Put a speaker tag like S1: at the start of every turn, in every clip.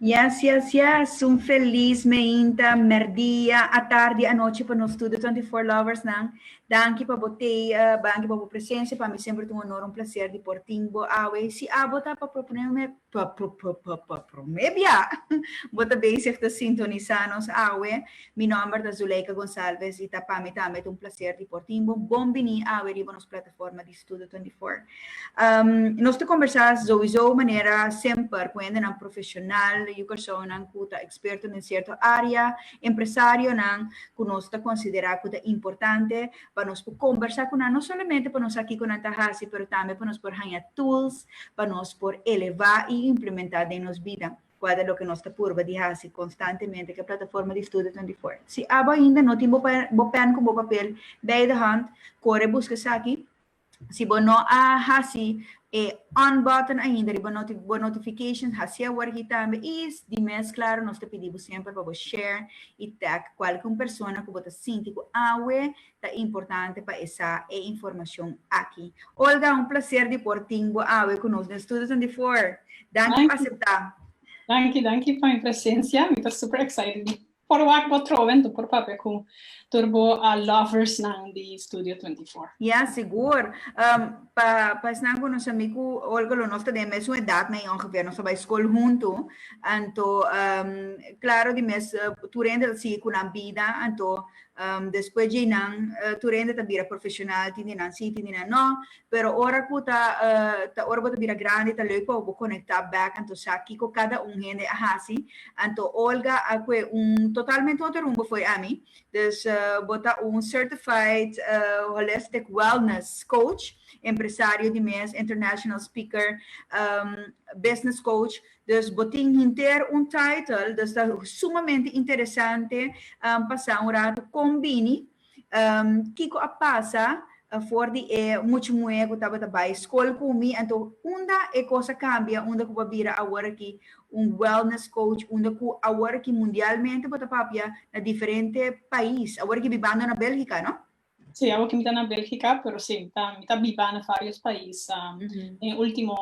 S1: Yes yes yes un felis meinta merdia atardi anochi pa nos tur de twenty four lovers nan danki pa bo tea danki pa bo presencia pa mi semper ta un honor un placer di por tin bo awe si abo ta pa proponeme pa pa prome bia bo ta bezig ta sintonisa nos awe mi nomber ta Zuleika Gonzalvez y ta pa mi tambe ta un placer di por tin bo bon bini awe riba nos plataforma di Studio 24. Nos ta kombersá souizó manera semper ku hendenan profeshonal yu personanan ku ta eksperto den sierto área, empresarionan ku nos ta konsiderá ku ta importante pa nos por kombersá ku nan no solamente pa nos sa kiko nan ta hasi pero tambe pa nos por haña tools pa nos por elevá i implementá den nos bida. Kua ta loke nos ta purba di hasi konstantemente ku e plataforma di studio twenty four? Si abo ainda no tin bo bo pèn ku bo papel bei de hònt, kore buska esaki. Si bo no a hasi e on button ainda riba bo notification, hasié awor aki tambe i di mes klaro nos ta pidi bo semper pa bo share i tag kualke un persona ku bo ta sinti ku awe Ta importante pa e sa e informacion aki. Olga, un placer di por tin bo awe cu nos den Studio Twenty Four. Danki pa acepta. Danki, danki pa mi presencia. Mi ta super excited di por wak bo atrobe en tur por papia cu tur bo a loversnan di Studio Twenty Four. Ya, sigur. Pa pa esnan cu no sa mi cu Olga lo nos ta den e mesun edad na e ongeveer. Nos a bay scol hunto. Anto, claro di mes tur hende ta sigui cu nan bida. Anto, Despues dje nan tur hende ta bira profesional, tin di nan sí, tin di nan no. Pero ora ku ta ta ora bo ta bira grandi ta leuk pa bo konektá bèk anto sa kiko kada un hende a hasi. Anto Olga a kue un totalmente otro rumbo fo'i ami. Dus bo ta un certified holistic wellness coach, empresario di mes, international speaker, business coach. Dus bo tin hinter un title, dus ta sumamente interesante pasa un ratu con bini, kico a pasa for di e muchmuhe cu tabata bay scol cu mi, anto unda e cos a cambia unda cu bo a bira awor aki un wellness coach, unda cu awor aki mundialmente bo ta papia na diferente pais, awor aki bibando na Belgica, no? Sí, awor ki mi ta na Belgica, pero sí, mi ta mi ta biba na varios pais den ultimo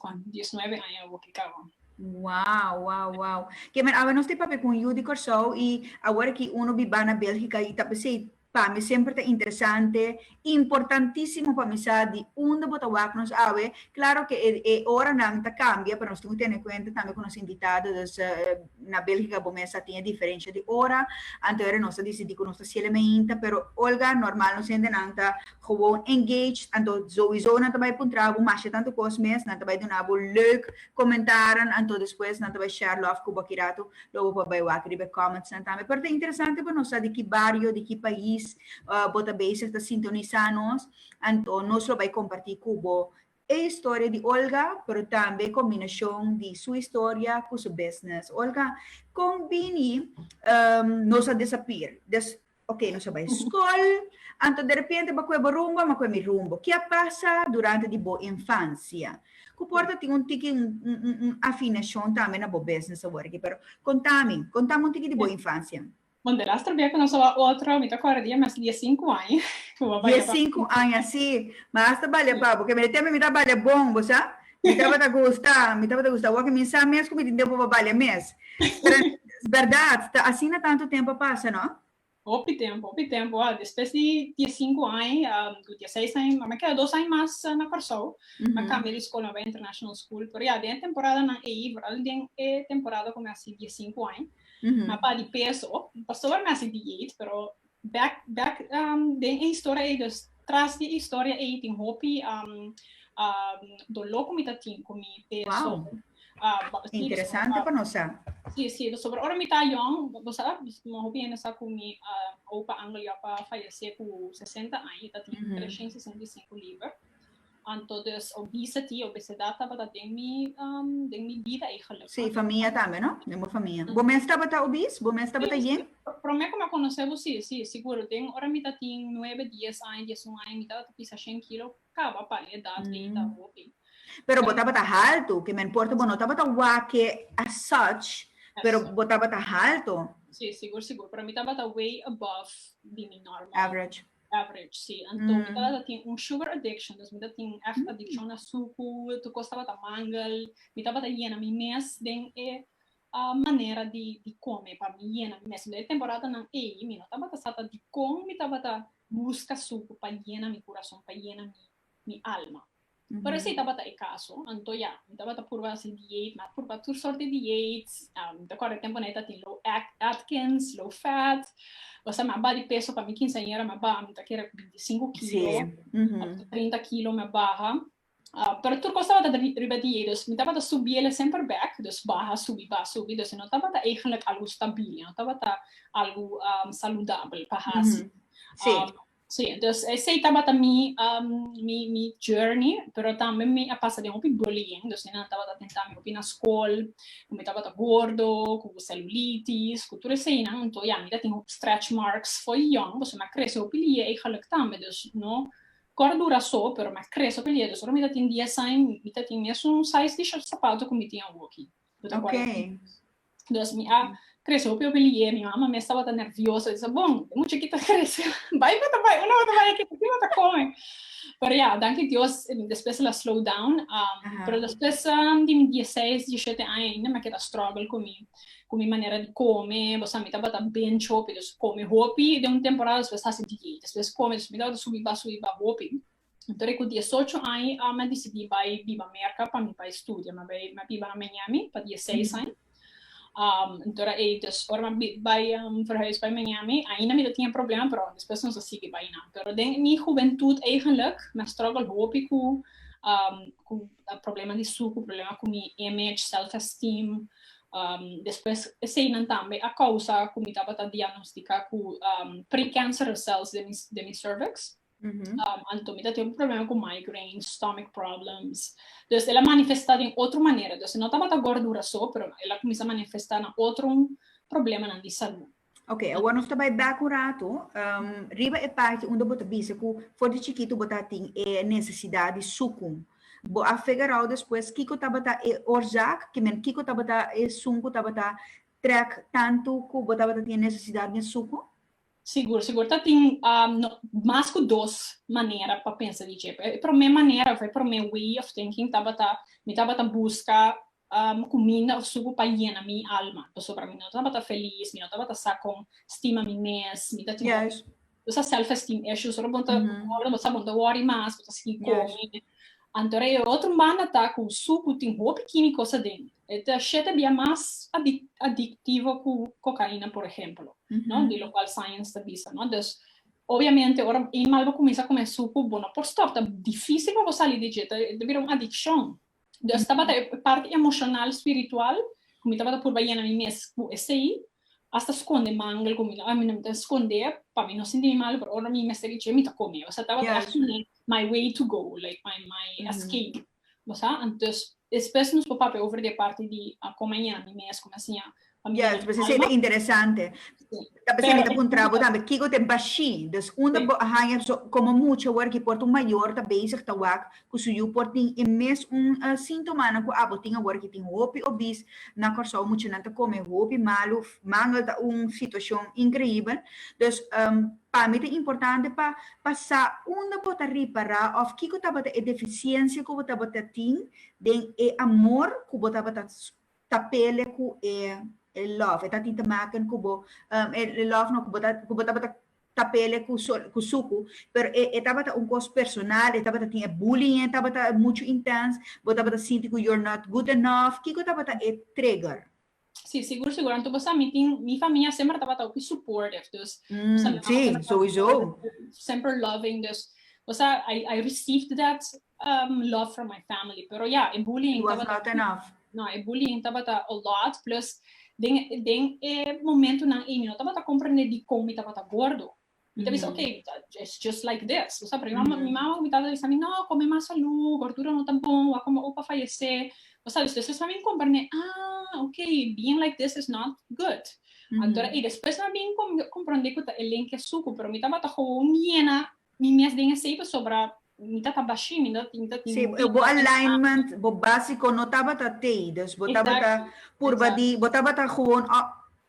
S1: cuantu dies nuebe aña awor ki kaba. Wow, wow, wow. Ke men aba nos ta papia ku un yu di Kòrsou i awor aki unu biba na Belgica i ta bisei, pa mi semper ta interesante, importantisimo pa mi sa di unda bo ta wak nos awe. Klaro ke e oranan ta kambia, pero nos tin ku tene kuenta tambe ku nos invitado, dus. na Belgica bo mes a tin e diferencia di ora, anteora nos a dicidi cu nos ta ciela meinta, pero Olga normal nos hendenan ta gewoon engaged, anto sowiso nan ta bay puntra bo masha tanto cos mes, nan ta bay duna bo leuk comentaran, anto despues nan ta bay share lof cu bo aki rato, lo bo por bay wak riba e comments nan tambe, pero ta interesante pa nos sa di ki bario, di ki pais bo ta bezig ta sintonisa nos, anto nos lo bay comparti cu bo E historia di Olga, pero tambe e combinacion di su historia cu su business. Olga, con bini nos a disappear? Des, ok, nos a bay scol, anto derepente bo cue bo rumbo, ama cue mi rumbo. Ki a pasa durante di bo infancia cu por ta tin un tiki un afinacion tambe na bo business aworaki? Pero contami, contami un tiki di bo infancia. Bon, de laster bia ku nos oa otro, mi ta kòrda di e mes di e sinku aña ku bo a balia pa mi. Di e sinku aña, si. Ma hasta balia pa bo. Ke mende tempu mi ta balia bon, bo sa. Mi tabata gusta, mi tabata gusta wak. Mi sa mes ku mi tin tempu pa balia mes. Pero es bèrdat, ta asina tantu tempu a pasa, no? Hopi tempu, hopi tempu. A, despues di di e sinku aña, ku di e seis aña, mama keda dos aña mas na Kòrsou. Mi a kambia di skol, mi a bai international school. Pero ya den e temporanan ei, boral den e temporada ku mi a hasi di e sinku aña. Ma pa di peso, pastor mi a sinti yeit, pero bek bek den e historia ei, dus tras di e historia ei tin hopi doló ku mi ta tin ku mi peso. Wou, interesante pa nos sa. Sí, sí, pasobra ora mi ta yòn, bo sa, hopi hende sa ku mi opa Angel ya pa fayesé ku sesenta aña, e ta tin treshen sesenta i sinku liber. Anto dus obesity, obesedad tabata den mi den mi bida ei gelukkig. Sí, famia tambe no? Den bo famia. Bo mes tabata obese? Bo mes tabata yen? Sí, prome ku mi a konosé bo sí, sí, sigur. Den ora mi ta tin nuebe, dies aña, dies un aña mi tabata ta pisa shen kilo, kaba pa e edat ei ta hopi. Pero bo tabata haltu, ke men por ta bo no tabata wake as such, pero bo tabata haltu. Sí, sigur, sigur. Para mi tabata way above di mi normal. Average. Average, si. Anto mi tabata tin un sugar addiction, dus mi ta tin un èchte adiccion na suku, tur kos tabata mangel, mi tabata yena mi mes den e manera di kome pa mi yena mi mes. Sinda e temporadanan ei mi no tabata sa ta dikon mi tabata buska suku pa yena mi kurason, pa yena mi alma. Pero ese tabata e caso, anto ya, mi tabata purba haci diet, mi a purba tur sort di diet, mi ta acorda e temponan e ta tin low Atkins, low fat, pasobra mi a baha di peso pa mi kinceañera mi a baha, mi ta kere ku binti sinku kilo, ap tu trinta kilo mi a baha, pero tur cos tabata riba diet, dus mi tabata subiele semper bek, dus baha subi, baha subi, dus e no tabata eigenlijk algu stabil, e no tabata algu saludabel pa haci. Sí, dus esei tabata mi mi mi journey, pero tambe mi a pasa den hopi bullying, dus nan tabata tenta mi hopi na skol, ku mi tabata gordo, ku selulitis, ku tur eseinan, enton ya mi ta tin hopi stretch marks fo'i yòn, pasobra mi a krese hopi lie eigenlijk tambe, dus no kòrdura so, pero mi a krese hopi lie, dus ora mi ta tin dies aña mi ta tin mesun size di short sapato ku mi tin awoki. Bo ta kual aki. Dus mi a krese hopi hopi lier. Mi mama mes tabata nervioso. Bisa, bon, e mucheki ta krese. Bai bo ta bai, unda bo ta bai aki, aki bo ta kome. Pero ya, danki Dios, despues el a slow down. Pero despues di mi dieseis, dieshete aña ainda mi a keda struggle ku mi ku mi manera di kome. Bo sa, mi tabata binch hopi. Dus kome hopi den un temporada, despues hasi diet. Despues kome, mi tabata subi ba, subi ba hopi. Tori ku diesocho aña i a mi a disidí bai biba Merka pa mi bai studia. Mi a bai mi a biba na Miami pa dieseis aña. Anto a ei dus ora mi a bai verhuis bai Miami ainda mi ta tin e problema pero despues nos a sigui bai nan. Pero den mi hubentut eigenlijk mi a struggle hopi ku ku problema di suku, problema ku mi image, self esteem. Despues eseinan tambe a kousa ku mi tabata diagnostika ku precancerous cells den mi den mi cervix. Anto mi ta tin un problema ku migraine, stomach problems. Dus el a manifestá den otro manera. Dus e no tabata gòrdura so, pero el a kuminsá manifestá na otro problemanan di salú. Oke, awor nos ta bai bèk un ratu riba e parti unda bo ta bisa ku for di chikitu bo ta tin e nesesidat di suku. Bo a figerou despues kiko tabata e orsak, ki men kiko tabata esun ku tabata trèk tantu ku bo tabata tin e nesesidat den suku? Sigur, sigur ta tin mas ku dos manera pa pensa di dje. E promé manera òf e promé way of thinking tabata mi tabata buska kuminda òf suku pa yena mi alma pasobra mi no tabata felis, mi no tabata sa kon stima mi mes, mi ta tin òf esaki self esteem issues. Ora bo ta wòrdu bo ta sa bo no ta wòri mas, bo ta sigui kome. Anto rei e otro manda ta cu su cu tin hopi kini cosa dentro. E ta shete bia mas adictivo cu cocaina, por ehemplo, no? Di locual science ta bisa, no? Dus, obviamente, ora e animal bo cuminsa come su cu, bo no por stop, ta dificil pa bo sali di dje, ta, e ta bira un adiccion. Dus tabata e parti emocional, spiritual, cu mi tabata purba yena mi mes cu esey, hasta sconde mangel cu mi, a mi no mi ta sconde pa mi no sinti mi malo, pero ora mi mester di dje, mi ta come. Tabata asina. my way to go, like my my escape, bo sa? Antes despues nos por papia over di e parti di kon a yami mes, kon a siña pa mi. Yes, pues esei ta interesante. Ta p'esei mi ta puntra bo tambe kiko ta e bashí. Dus unda bo a haña so komo mucha wòrda ki por ta un mayor ta bezig ta wak ku su yu por tin e mes un sintomanan ku abo tin awor ki tin hopi obis. Na Kòrsou muchanan ta kome hopi malu, mangel ta un situashon inkreibel. Dus Pa mi ta importante pa pa sa unda bo ta ripará òf kiko tabata e defisiensia ku bo tabata tin den e amor ku bo tabata ta pelea ku e e lòf e ta tin te maken ku bo e lòf no ku bo ta ku bo tabata ta pelea ku solo ku suku pero e e tabata un kos personal e tabata tin e bullying tabata muchu intèns bo tabata sinti ku you're not good enough kiko tabata e trigger. Sí, sigur, sigur. Anto bo sa, mi tin, mi famia semper tabata hopi supportive. Dus, bo sa, mi mama semper tabata hopi supportive, semper loving. Dus, bo sa, I, I received that um, love from my family. Pero ja, e bullying tabata... It was not enough. No, e bullying tabata a lot. Plus, den, den e momentunan ei, mi no tabata comprende dikon mi tabata gordo. Mi ta bisa, ok, it's just like this. Bo sa aprendi? Mi mama, mi mama ku mi tata ta bisa mi, no, kome mas salú, gordura no ta bon, bo a kome opa fayesé. Bo sa, despues esnan a bin komprendé, ah, ok, being like this is not good. Anto, i despues esnan a bin komprendé ku ta e lenke suku, pero mi tabata gewoon yena mi mes den esei pasobra Mi ta kabashi, mi no tin, ta tin mubi. Si, bo alignment, bo básico no tabata t'ey, dus bo tabata purba di, bo tabata gewoon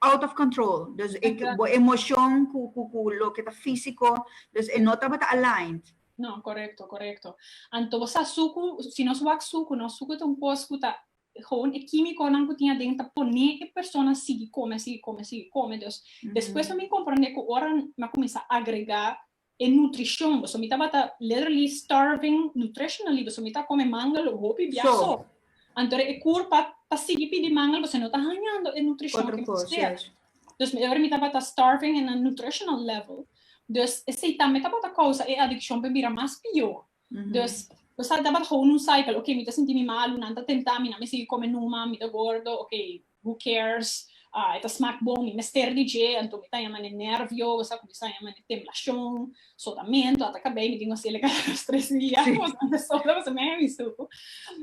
S1: out of control, dus e bo emocion cu, cu, cu loke ta físico, dus e no tabata aligned. No, corecto, corecto. Anto bo sa sucu, si nos wak sucu, nos sucu ta un cos cu ta, gewoon e químiconan cu tin aden ta pone e persona sigui come, sigui come, sigui come, dus despues pa mi comprende cu ora mi a cuminsá agrega E nutricion, boso mi tabata literally starving nutritionally, boso mi ta come mangal hopi bia so. Anto e cur pa pa sigui pidi mangal boso no ta hañando e nutricion cu mi sea. Dus e ora mi tabata starving in a nutritional level. Dus esey tambe tabata causa e adiccion pa e bira mas pio. Dus boso sa tabata go un cycle, ok mi ta sinti mi malu, nan ta tempta mi nan mi sigui come numa, mi ta gordo, ok Who cares? Ah, e ta smak bon, mi mester di dje, anto mi ta yama n'e nervio, mi sa ku mi sa yama n'e temblashon, sotamentu, ata kabei mi tin ku hasi e leka dos tres dia, pasobra mi ta sota, pasobra mi a hemi stuku.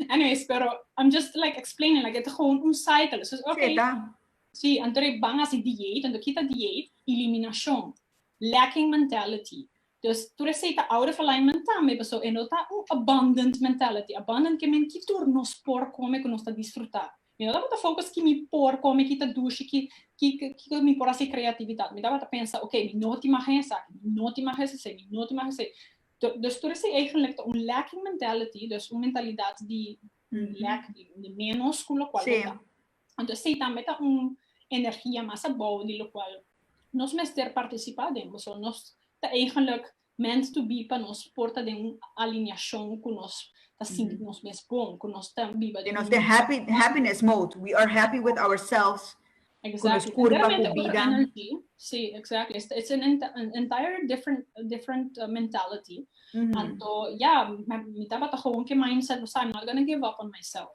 S1: Anyways, pero I'm just like explaining, like e ta gewoon un cycle, so ok, si, anto e ban hasi dieet, anto kita dieet, eliminashon, lacking mentality, dus tur esei ta out of alignment tambe, paso e no ta un abundant mentality, abundant ke men ki tur nos por kome ku nos ta disfruta, Mi no tabata focus ki mi por come ki ta dushi, ki kiko mi por haci creatividad. Mi tabata pensa, ok, mi no tin maha esaki, mi no tin maha esesey, mi no tin maha esey. Dus tur esey eigenlijk ta un lacking mentality, dus un mentalidad di lek, di menos cu locual bo ta. Anto esey tambe ta un energia mas abao di locual nos mester participa den bo. So nos ta eigenlijk Meant to be pa nos por ta den un alineashon ku nos ta sinti nos mes bon, ku nos ta biba den un. Happy, happiness mode, we are happy with ourselves, ku nos kurpa, ku bida. Si, exactly, it's an entire different, different mentality, anto ya, mi tabata gewoon ku e mindset, mi sa, I'm not gonna give up on myself.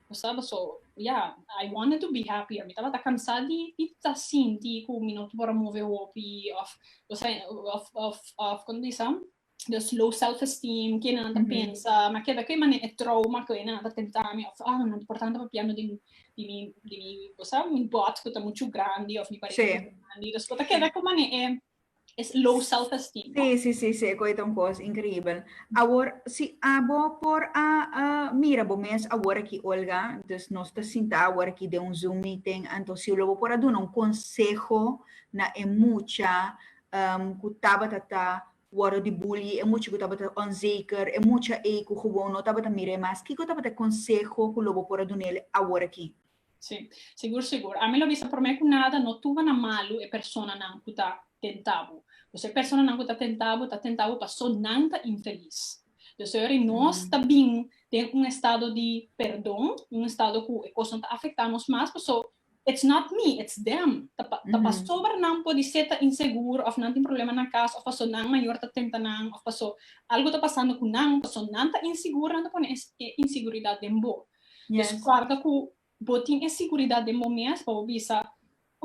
S1: bo sa bo so ya I wanted to be happy mi tabata kansa di di ta sinti ku mi no ta por a move hopi of bo sa of of of kon ta bisa just low self esteem ke nan ta pensa ma keda ke mane e trouma ke nan ta tenta mi of ah nan ta por tantu papia no di di mi di mi bo sa mi bot ku ta muchu grandi of mi barigunan ta muchu grandi dus bo ta keda ku mane e Es low self-esteem. Sí, sí, sí, sí, koe ta un kos inkribel. Awor, si a bo por a mira bo mes awor aki, Olga, dus nos ta sintá awor aki den un Zoom meeting, anto si lo bo por a duna un konseho na e mucha ku tabata ta wòrdu di bully, e mucha ku tabata onzeker, e mucha ei ku gewoon no tabata mira e mas, kiko tabata e konseho ku lo bo por a dun'e awor aki? Sí, sigur sigur. Ami lo bisa promé ku nada no tuba na malu e personanan ku ta tentá bo. Pues e personanan ku ta tentá bo, ta tentá bo pasó nan ta infelis. Entonces yo'ori nos ta bin den un estado di perdon, un estado ku e kosnan ta afektá nos mas, pasó it's not me, it's them. Ta pa, ta pasó bra nan por di ser ta insegur òf nan tin problema na kas òf pasó nan mayor ta tenta nan òf pasó algu ta pasando ku nan, pasó nan ta insigur nan ta pone e insiguridad den bo. Yes. Pues guarda cu bo tin e siguridad den bo mes pa bo bisa,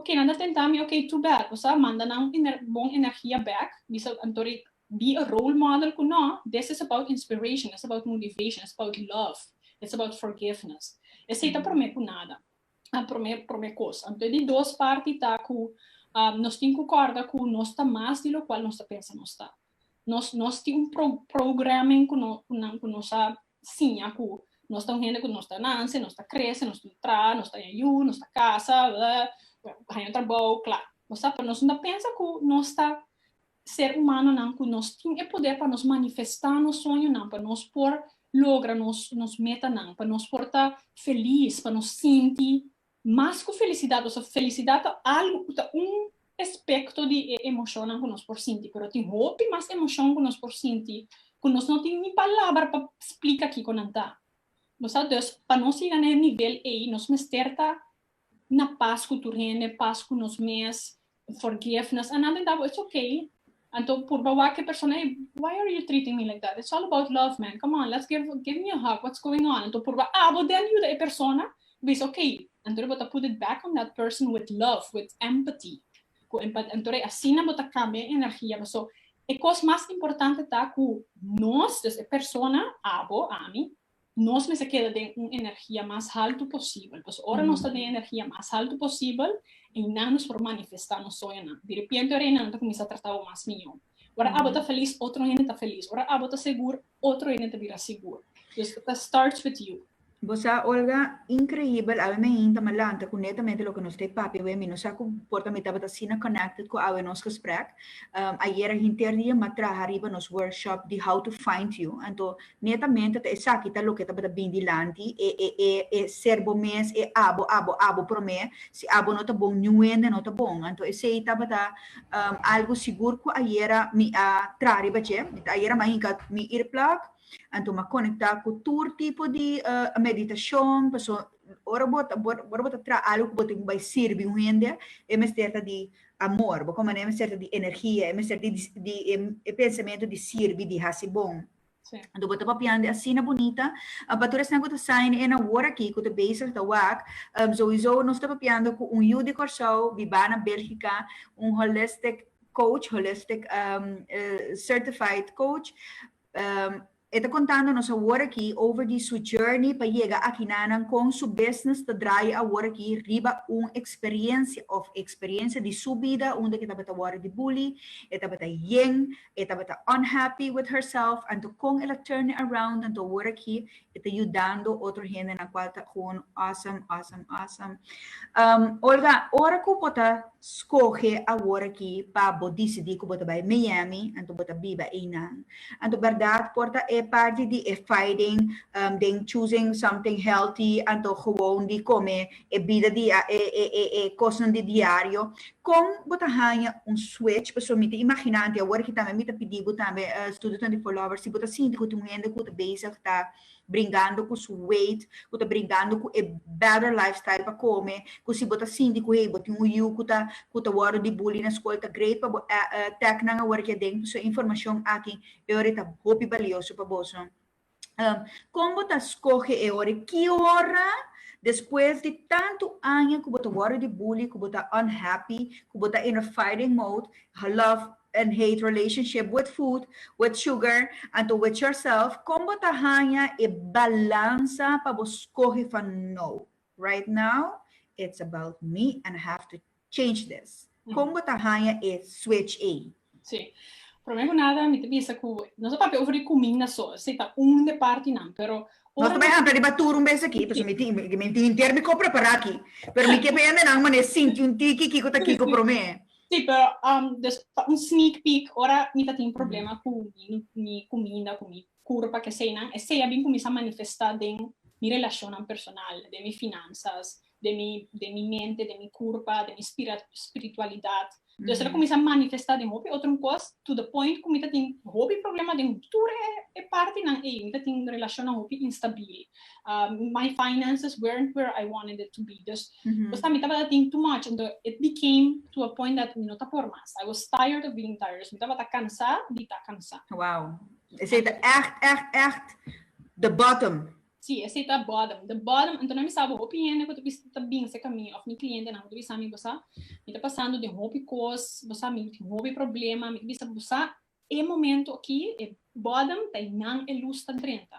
S1: Ok, nan ta tenta mi, ok, too bad. Bo sa manda nan ener, bon energia bek, bisa, anto e be a role model cu no, this is about inspiration, it's about motivation, it's about love, it's about forgiveness. Esey ta prome cu nada, a prome, prome cos. Anto e di dos parti ta cu, um, nos tin cu corda cu nos ta mas di locual nos ta pensa nos ta. Nos, nos tin un pro, programming cu no, cu nan, cu nos a siña ku nos ta un hende ku nos ta nanse, nos ta krese, nos ta un traha, nos ta haña yu, nos ta kasa, haña un trabou, kla. Bo sa, pero nos no ta pensa ku nos ta ser umanonan ku nos tin e poder pa nos manifestá nos sueñonan, pa nos por logra nos metanan, pa nos por ta felis, pa nos sinti Mas ku felisidat, boso sa felisidat ta algu ku ta un espekto di e emoshonnan ku nos por sinti, pero tin hopi mas emoshon ku nos por sinti ku nos no tin ni palabra pa splika kiko nan ta. Bo sa, dus pa nos yega na e nivel ei nos mester ta na pas ku tur hende, pas ku nos mes, forgive nos, a nada dabo, it's ok, anto purba wak e persona ey, why are you treating me like that, it's all about love man, come on, let's give, give me a hug, what's going on, anto purba abo den yuda e persona bisa ok, anto bo ta put it back on that person with love, with empathy, cu empat, anto rei asina bo ta cambia e energia bo, so e cos mas importante ta cu nos, dus e persona, abo, ami, nos mester keda den un energia mas haltu posibel, pasobra ora nos ta den energia mas haltu posibel, einan nos por manifestá nos soñonan. Diripiente ora einan nan ta kuminsá tratá bo mas mihó. Ora abo ta felis, otro hende ta felis. Ora abo ta segur, otro hende ta bira segur. Dus, ta starts with you. Bo sa, Olga, inkreibel, awe mi ein ta me lanta ku netamente loke nos ta e papia awe. Mi no sa ku por ta mi tabata asina connected ku awe nos gesprek. Ayera hinter di e matraha riba nos workshop di How to Find You. Anto Netamente ta esaki ta loke tabata bin dilanti, e e e e ser bo mes, e abo, abo, abo promé, si abo no ta bon niuende no ta bon. Anto esei tabata algu sigur ku ayera mi a traha riba dje. Mi ta ayera mi a hinka mi earplug, anto mi a konekta ku tur tipo di meditashon, paso ora bo ta ora bo ta traha algu ku bo tin ku bai sirbi un hende e mester ta di amor, bo kompaña, e mester ta di energia, e mester di di e pensamentu di sirbi, di hasi bon. Anto bo ta papiandi asina bunita. Pa tur esnan ku ta sa en e awor aki ku ta bezig ta wak, souiso nos ta papiando ku un yu di Kòrsou bibá na Bèlgika, un holistic coach, holistic certified coach. E ta kontando nos awor aki over di su journey pa yega aki nanan, kon su business ta drai awor aki riba un eksperiensia òf eksperiensia di su bida unda ke tabata wòrdu di bully, e tabata yen, E tabata unhappy with herself anto con el a turn it around anto awor aki e ta yudando otro hendenan cual ta gewoon awesome awesome awesome. Um, Olga, ora cu bo ta scoge awor aki pa bo dicidi cu bo ta bay Miami anto bo ta biba eynan, anto berdad por ta e parti di e fighting um, den choosing something healthy anto gewoon di come e bida di e kosnan di diario, kon bo ta haña un switch? Pasobra mi ta imaginá anti awor aki tambe mi ta pidi bo tambe studionan di Follower si bo ta sinti ku tin un hende ku ta bezig ta bringando ku su weight, ku ta bringando ku e better lifestyle pa kome, ku si bo ta sinti ku hey bo tin un yu ku ta ku ta wòrdu di bully na skol ta great pa bo tèknan awor aki aden. Pasobra e informashon aki, e ora e ta hopi balioso pa boso. Kon bo ta skohe e ora? Ki ora despues di tantu aña ku bo ta wòrdu di bully, ku bo ta unhappy, ku bo ta in a fighting mode, love and hate relationship with food, with sugar, anto with yourself, kon bo ta haña e balansa pa bo skohe van no, right now it's about me and I have to change this. Kon bo ta haña e switch ei? Sí. Promé ku nada mi ta bisa ku nos a papia over di kuminda so, esei ta un di e partinan, pero Nos ta bai amplia riba tur un bes aki, pasobra mi tin, mi tin henter mi kop prepará aki, pero mi ke pende nan manera sinti un tiki kiko ta kiko promé. Sí, pero dus pa un sneak peek, ora mi ta tin problema ku mi kuminda, ku mi kurpa, ke eseinan, esei a bin kuminsá manifestá den mi relashonnan personal, den mi finansas, den mi den mi mente, den mi kurpa, den mi spira spiritualidat. Entonces el a kuminsá manifestá den hopi otro kos to the point ku mi ta tin hopi problema den tur e e partinan ei. Mi ta tin relashonnan hopi instabil. my finances weren't where I wanted it to be. Dus esta mi tabata tin too much ento it became to a point that mi no ta por mas. I was tired of being tired. Dus mi tabata kansá di ta kansá. Wow. Esei ta ègt ègt ègt the bottom. Sí, esei ta bòdem de bòdem. Anto nan mi sa bo hopi hende ku ta bisa ta binse ka mi òf mi klientenan ku ta bisa mi bo sa mi ta pasando den hopi kos, bo sa mi tin hopi problema, mi ta bisa bo sa e momento aki e bòdem ta ei nan e lus ta drenta.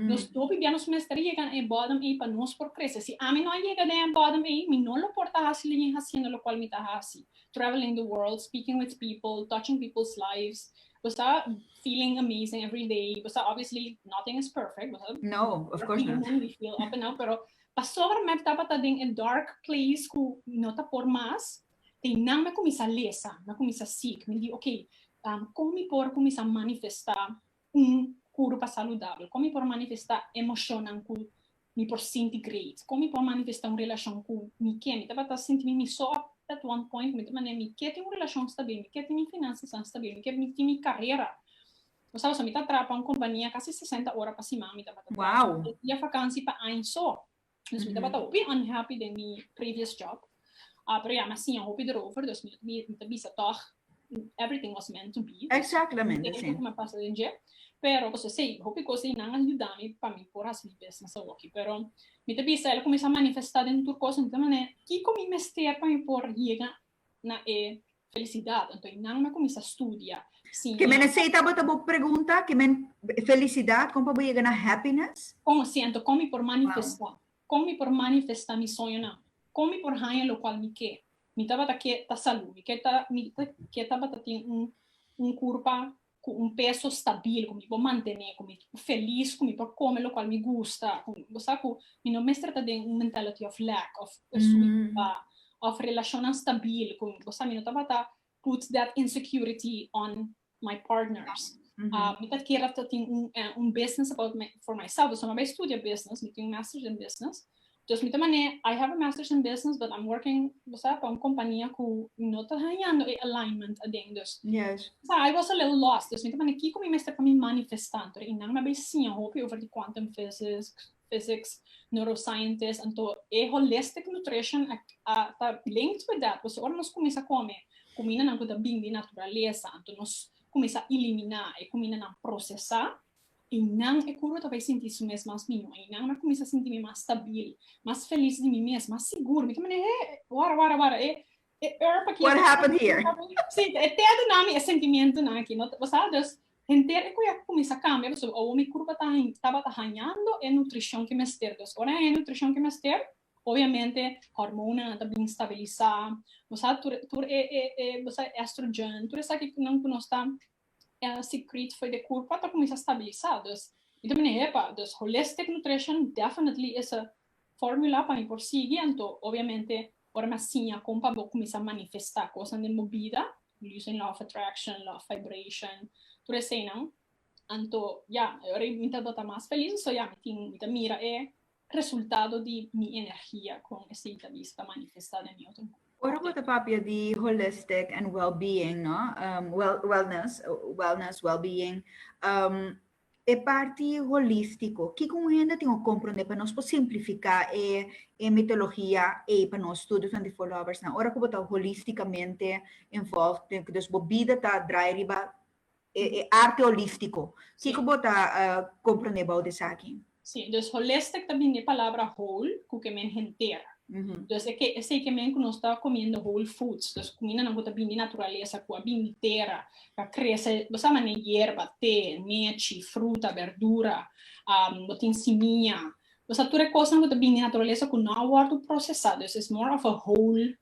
S1: Nos hopi bia nos mester yega na e bòdem ei pa nos por krese. Si ami no a yega den e bòdem ei mi no lo por ta hasi alingin hasiendo lokual mi ta hasi, traveling the world, speaking with people, touching people's lives, Bo sa feeling amazing every day, bo sa obviously nothing is perfect, bo sa No, of course not. Human, we feel up and down, pero pasobra mep tabata den e dark place cu no ta por mas, teinan me cuminsa lesa, me cuminsa seek, mi di ok, con mi por cuminsa manifesta un curu pa saludabel, con mi por manifesta emocionnan cu Mi por sinti great. Kon mi por manifestá un relashon ku mi ke? Mi tabata sinti mi mi so ap at one point ku mi ta manera mi ke tin un relashon stabil, mi ke tin mi finansianan stabil, mi ke tin mi karera. Bo sabe so mi ta traha pa un kompania kasi sesenta ora pa siman, mi tabata traha tres dia fakansi pa aña so. Dus mi tabata hopi unhappy den mi previous job. a programa siña hopi derover dus mi mi ta bisa tòg everything was meant to be exactamente si me pasa den dje pero ku sosei hopi kos ei nan a yuda mi pa mi por hasi mi business awoki pero mi ta bisa el a kuminsha manifesta den tur kos mi ta mane kiko mi mester pa mi por yega na e felicidad anto ei nan mi a kuminsha studia siña ke mene sei tabata bo pregunta ke men felicidad kon pa bo yega na happiness kon si anto kon mi por manifesta Kon mi por manifestá mi soñonan? Kon mi por haña lokual mi ke? Mi tabata ke ta salú, mi ke ta mi ke tabata tin un un kurpa ku un peso stabil ku mi por mantené, ku mi por felis, ku mi por kome lokual mi gusta, ku bo sa ku mi no mester ta den un mentality of lack of of relashonnan stabil ku bo sa mi no tabata put that insecurity on my partners. Mi ta kier ta tin un business about for myself, dus mi a bai studia business, mi tin un masters in business, dus mi ta manera I have a masters in business but I'm working bo sa pa un compania cu no ta hañando e alignment aden, dus I was a little lost, dus mi ta manera kico mi mester pa mi manifesta, anto e nan mi a bai siña hopi over di quantum physics, physics, neuroscientist, anto e holistic nutrition ta linked with that, pasobra ora nos cuminsa come cuminanan cu ta bini di naturaleza, anto nos cuminsa elimina e cuminanan procesa, y nan e curva ta bay sinti su mes mas miyo, y nan a cuminsa sinti mi mas stabil, mas feliz di mi mes, mas sigur, mi ta manda hey, wara, wara, wara, e E er pa What happened here? Sí, e tea di nami e sentimientonan aki, no? Bo sa, dus, henter e kuya kuminsá kambia pasobra awor mi kurpa ta hañ, tabata hañando e nutrishon ke mester. Dus ora haña e nutrishon ke mester, obviamente hormonennan ta bin stabilisá, bo sa, tur e, tur e, e, bo sa, e estrogen, tur esaki nan ku nos ta el sikriet for de kurpa ta kuminsá stabilisá, dus mi ta mene hepa, dus holistic nutrition definitely is a fórmula pa mi por sigui, anto obviamente ora mi a siña kon pa bo kuminsá manifestá kosnan den bo bida, using law of attraction, law of vibration, tur eseinan, anto ya, ora mi tabata mas felis, so ya, mi tin, mi ta mira e Resultado di mi energia con esey ta bisa ta manifesta den mi otro book. Ora bo ta papia di holistic and well-being no, wellness, wellness, well-being, e parti holistico kico un hende tin o comprende pa nos por simplifica e mitologia ey pa nos tur Twenty Four Lovers nan. Ora cu bo ta holisticamente involved, den cu bo bida ta draai riba e arte holíftiko. Kiko bo ta komprondé bou di esaki? Sí, dus holistic ta bini di e palabra whole, ku ke men henter. Dus e ke esei ke men ku nos ta komiendo whole foods, dus kumindanan ku ta bini di naturalesa, ku a bini di tera, ku a krese, bo sa manera yerba, te, nechi, fruta, berdura, bo tin simiña, bo sa tur e kosnan ku ta bini di naturalesa ku no a wòrdu prosesá, dus is more of a whole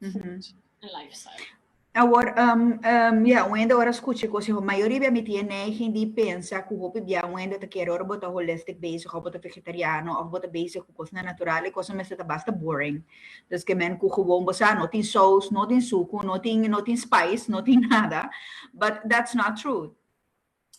S1: food and lifestyle. Awor, um, um, ya, un hende ora scucha e cosa, mayoria bia mi tiene neiging di pensa cu hopi bia un hende ta kere ora bo ta holistic bezig, of bo ta vegetariano, of bo ta bezig cu cosnan natural, e cosa mester ta basta boring. Dus ke men cu gewoon bo sa, no tin saus, no tin sucu, no tin, no tin spice, no tin nada, but that's not true.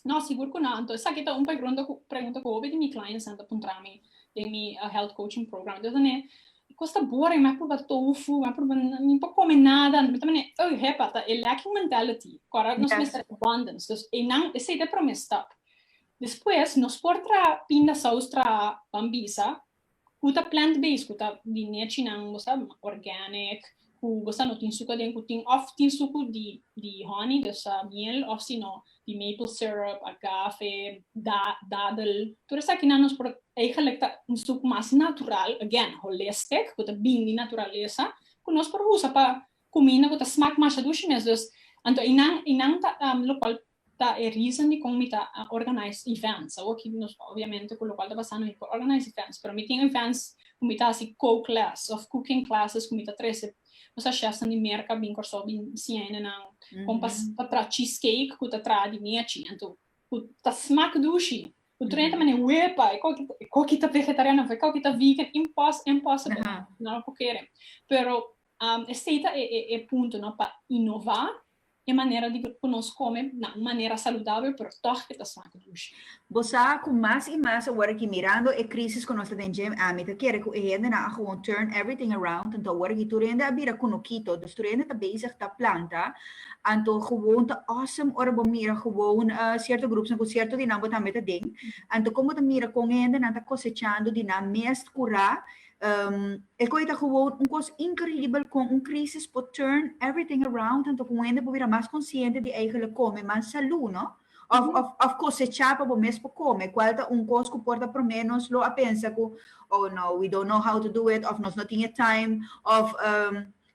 S1: No, sigur cu no. Entonces aki ta un pregrunta cu, pregunta cu hopi di mi clientsnan ta puntra mi den mi health coaching program. Entonces mi ta mane, Cos ta boring, mi a pruba tofu, mi a pruba, mi por come nada. Mi ta mane, Ey, hepa, ta e lacking mentality cu ora nos mester abundance. Dus einan, esey ta e prome stap. Despues nos por traha pindasaus, traha bambisa, Cu ta plant based cu ta di nechinan bo sa organic cu bo sa no tin suca den cu tin of tin sucu di di honey dus sa miel of si no di maple syrup, agave, da dadel tur esaki nan nos por eigenlic ta un stuk mas natural again holistic cu ta bini di naturalesa cu nos por usa pa cuminda cu ta smaak masha dushi mes dus anto y nan y nan ta locual Ta e reason di kon mi ta organize events. Awoki nos obviamente cu local ta pasando mi por organize events, pero mi tin events cu mi ta haci coke les of cooking classes cu mi ta trece nos a chefnan di Merca bin Corsou bin siña hende nan con pa pa traha cheese cake cu ta traha di mi achi anto cu ta smak dushi cu tur hende ta mane wepa e coki e coki ta vegetariano of e coki ta vegan impos impossible nan lo cu kere pero Esei ta e punto no pa inova e manera di cu nos come na un manera saludabel pero toch e ta snak dush. Bo sa cu mas y mas awor aki mirando e crisis cu nos ta den dje ami ta kere cu e hendenan a gewoon turn everything around anto awor aki tur hende a bira kunukito dus tur hende ta bezig ta planta anto gewoon ta awesome ora bo mira gewoon cierto groepsnan cu cierto di nan bo tambe ta den anto con bo ta mira con e hendenan ta cosechando di nan mes cura E koe ta gewoon un kos inkredibel kon un krisis por turn everything around anto ku un hende por bira mas konsiente di eigelik kome mas salú, no? Òf òf òf kosechá pa bo mes por kome, kual ta un kos ku por ta promé nos lo a pensa ku, Oh no, we don't know how to do it, òf nos no tin e taim, òf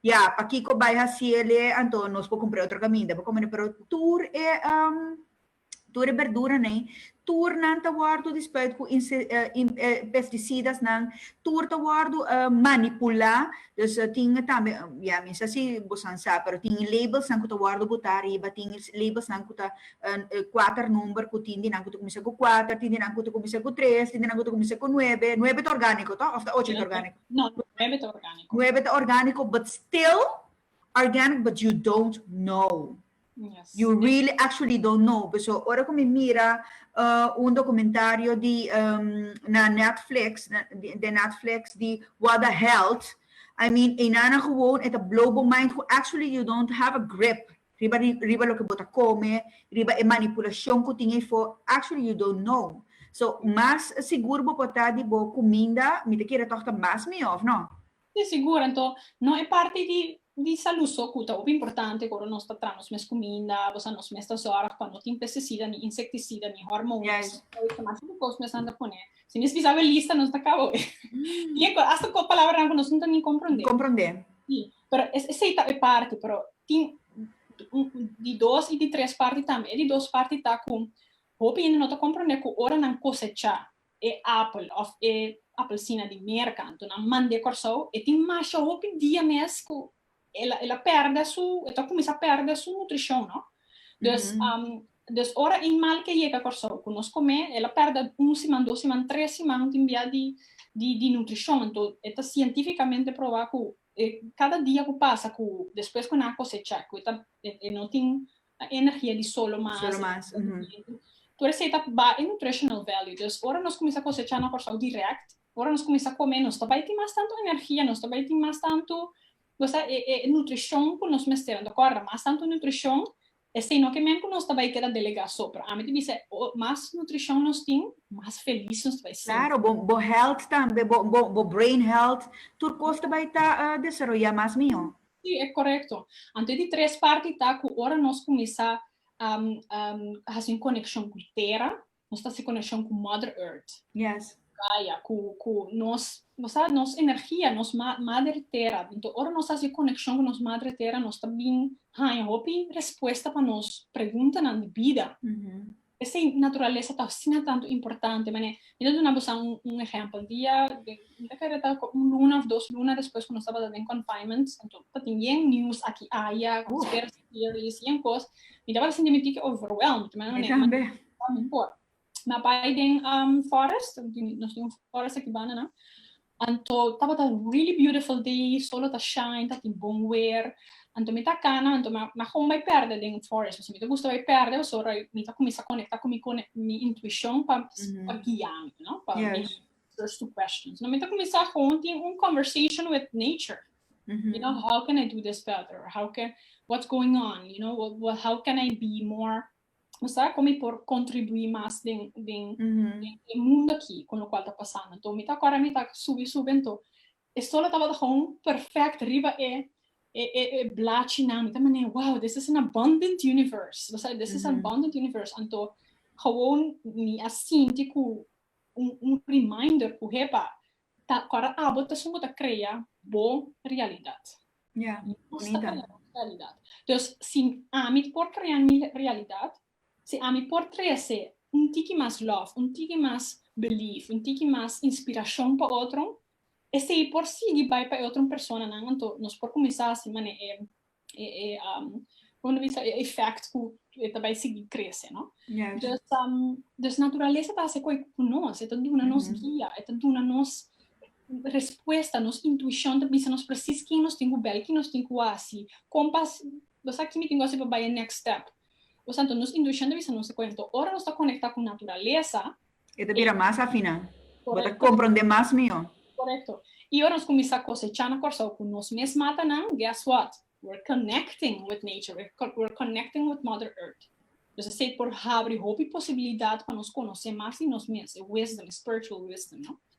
S1: ya, pakiko bai hasié lé anto nos por kumpr'é otro kaminda pa kom'é, pero tur e. Tur e berduranan, tur nan ta wòrdu dispuit ku pestisidanan, tur ta wòrdu manipulá. Dus tin tambe, ya mi sa si bosan sa, pero tin labelsnan ku ta wòrdu butá ariba, tin labelsnan ku ta kuater number, ku tin di nan ku ta kuminsá ku kuater, tin di nan ku ta kuminsá ku tres, tin di nan ku ta kuminsá ku nuebe. Nuebe ta orgániko to òf ta ocho ta orgániko? No, nuebe ta orgániko. Nuebe ta orgániko, but still organic but you don't know. Yes. You really actually don't know. Por eso, ora cu mi mira uh, un documentario di, um, na Netflix, na, di, de Netflix, di What the Health, I mean, enana gewoon, eta blow bo mind, cu actually you don't have a grip riba, riba lo que bota come, riba e manipulacion cu tin fo, actually you don't know. So, mas sigur bo pota di bo cuminda, mi te kira toch ta mas mi of no? Te sigur, anto no e parti di di salú so ku ta hopi importante, ku ora nos ta tra nos mes kuminda, bo sa nos mes ta zòrg pa no tin pesticida, ni insektisida, ni hormonas, mas hopi kos mes nan ta pone, si mes bisa awor lista nos ta kaba awor. Tin e kos, asta kos palabranan ku nos no ta ni komprondé. Komprondé. Sí, pero es esei ta e parti, pero tin di dos i di tres parti tambe. E di dos parti ta ku hopi hende no ta komprondé ku ora nan kosechá, E apel of e apelsina di mer kantu nan mand'e Kòrsou, e tin masha hopi dia mes ku el el a pèrdè su, e ta kuminsá pèrdè su nutrishon, no. Dus dus ora ein mal ke yega Kòrsou ku nos kom'é, el a pèrdè un siman, dos siman, tres siman tin bia di di di nutrishon. Anto e ta sientifikamente probá ku e kada dia ku pasa ku despues ku nan a kosechá ku e ta e no tin na energia di solo mas, solo mas, uh -huh. tur esei ta ba e nutritional value, dus ora nos cuminsa cosecha na Corsou direct, ora nos cuminsa come nos ta bai tin mas tanto energia, nos ta bai tin mas tanto, cosa e e nutricion cu nos mester, anto corda mas tanto nutricion, esei no ke men cu nos ta bai keda delega so, pero ami ta bisa mas nutricion nos tin, mas feliz nos ta bai sinti. Claro, bo bo health tambe, bo bo bo brain health, tur cos ta bai ta desaroya mas mihor. Sí, e korekto. Anto di tres parti ta ku ora nos kuminsá hasi un konekshon ku tera, nos ta hasi konekshon ku Mother Earth. Yes. Gaya, ku ku nos, bo sa, nos energia, nos ma, Mader Tera. Anto ora nos hasi e konekshon ku nos Madre Tera, nos ta bin haña hopi respuesta pa nos preguntanan di bida. P'esei, naturalesa ta asina tantu importante. Manera, mi ta duna boso un ehèmpel. Dia, mi ta kere ta un luna òf dos luna despues ku nos tabata den confinement, anto no tabata yen news aki aya, conspiracy theories, yen kos, mi tabata sinti mi tiki overwhelmed. Mi ta manda, mi tambe por. Mi a bai den forest, nos tin un forest aki banda nan. Anto tabata really beautiful day, sol lo ta shine, ta tin bon wer, anto mi ta cana, anto mi a gong bay perde den forest, pasobra mi ta gusta bay perde, paso ora mi ta cuminsa conecta cu mi mi intuicion pa guia mi, no? Pa mi answers to questions. Mi ta cuminsa gong tin un conversation with nature, you know, how can I do this better? How can, what's going on, you know, how can I be more Bo sa kon mi por kontribuí mas den den e mundu akí kon lokual ta pasando. Anto mi ta kòrda mi ta subi subi anto e sol a tabata hon perfèkt riba e e e e blachinan. Mi ta manera wow this is an abundant universe. Bo sa this is an abundant universe. Anto hou mi a sinti ku un un reminder ku hepa Ta kora abo ta sumo ta krea bo realidad. Ya, Nos ta krea nos realidad. Dus si ami por krea mi realidad, si ami por trese un tiki mas love, un tiki mas belief, un tiki mas inspiracion pa otro, esei por sigui bai pa e otro personanan, anto nos por cuminsa haci mane'e e como dice e effect cu e ta bai sigui crece no dus dus naturalesa ta haci coe cu nos e ta duna nos guia e ta duna nos respuesta nos intuicion ta bisa nos precies kin nos tin cu bel kin nos tin cu haci con pas bo sa kibi tin cu haci pa bai e next step nos intuicion ta bisa nos e coe ora nos ta conecta cu naturalesa E ta bira mas afiná. Bo ta komprondé mas mihó. Korekto. I ora nos kuminsá kosechá na Kòrsou ku nos mes matanan, guess what? We're connecting with nature, we're we're connecting with Mother Earth. Dus esei por habri hopi posibilidat pa nos konosé mas di nos mes, e wisdom, e spiritual wisdom, no?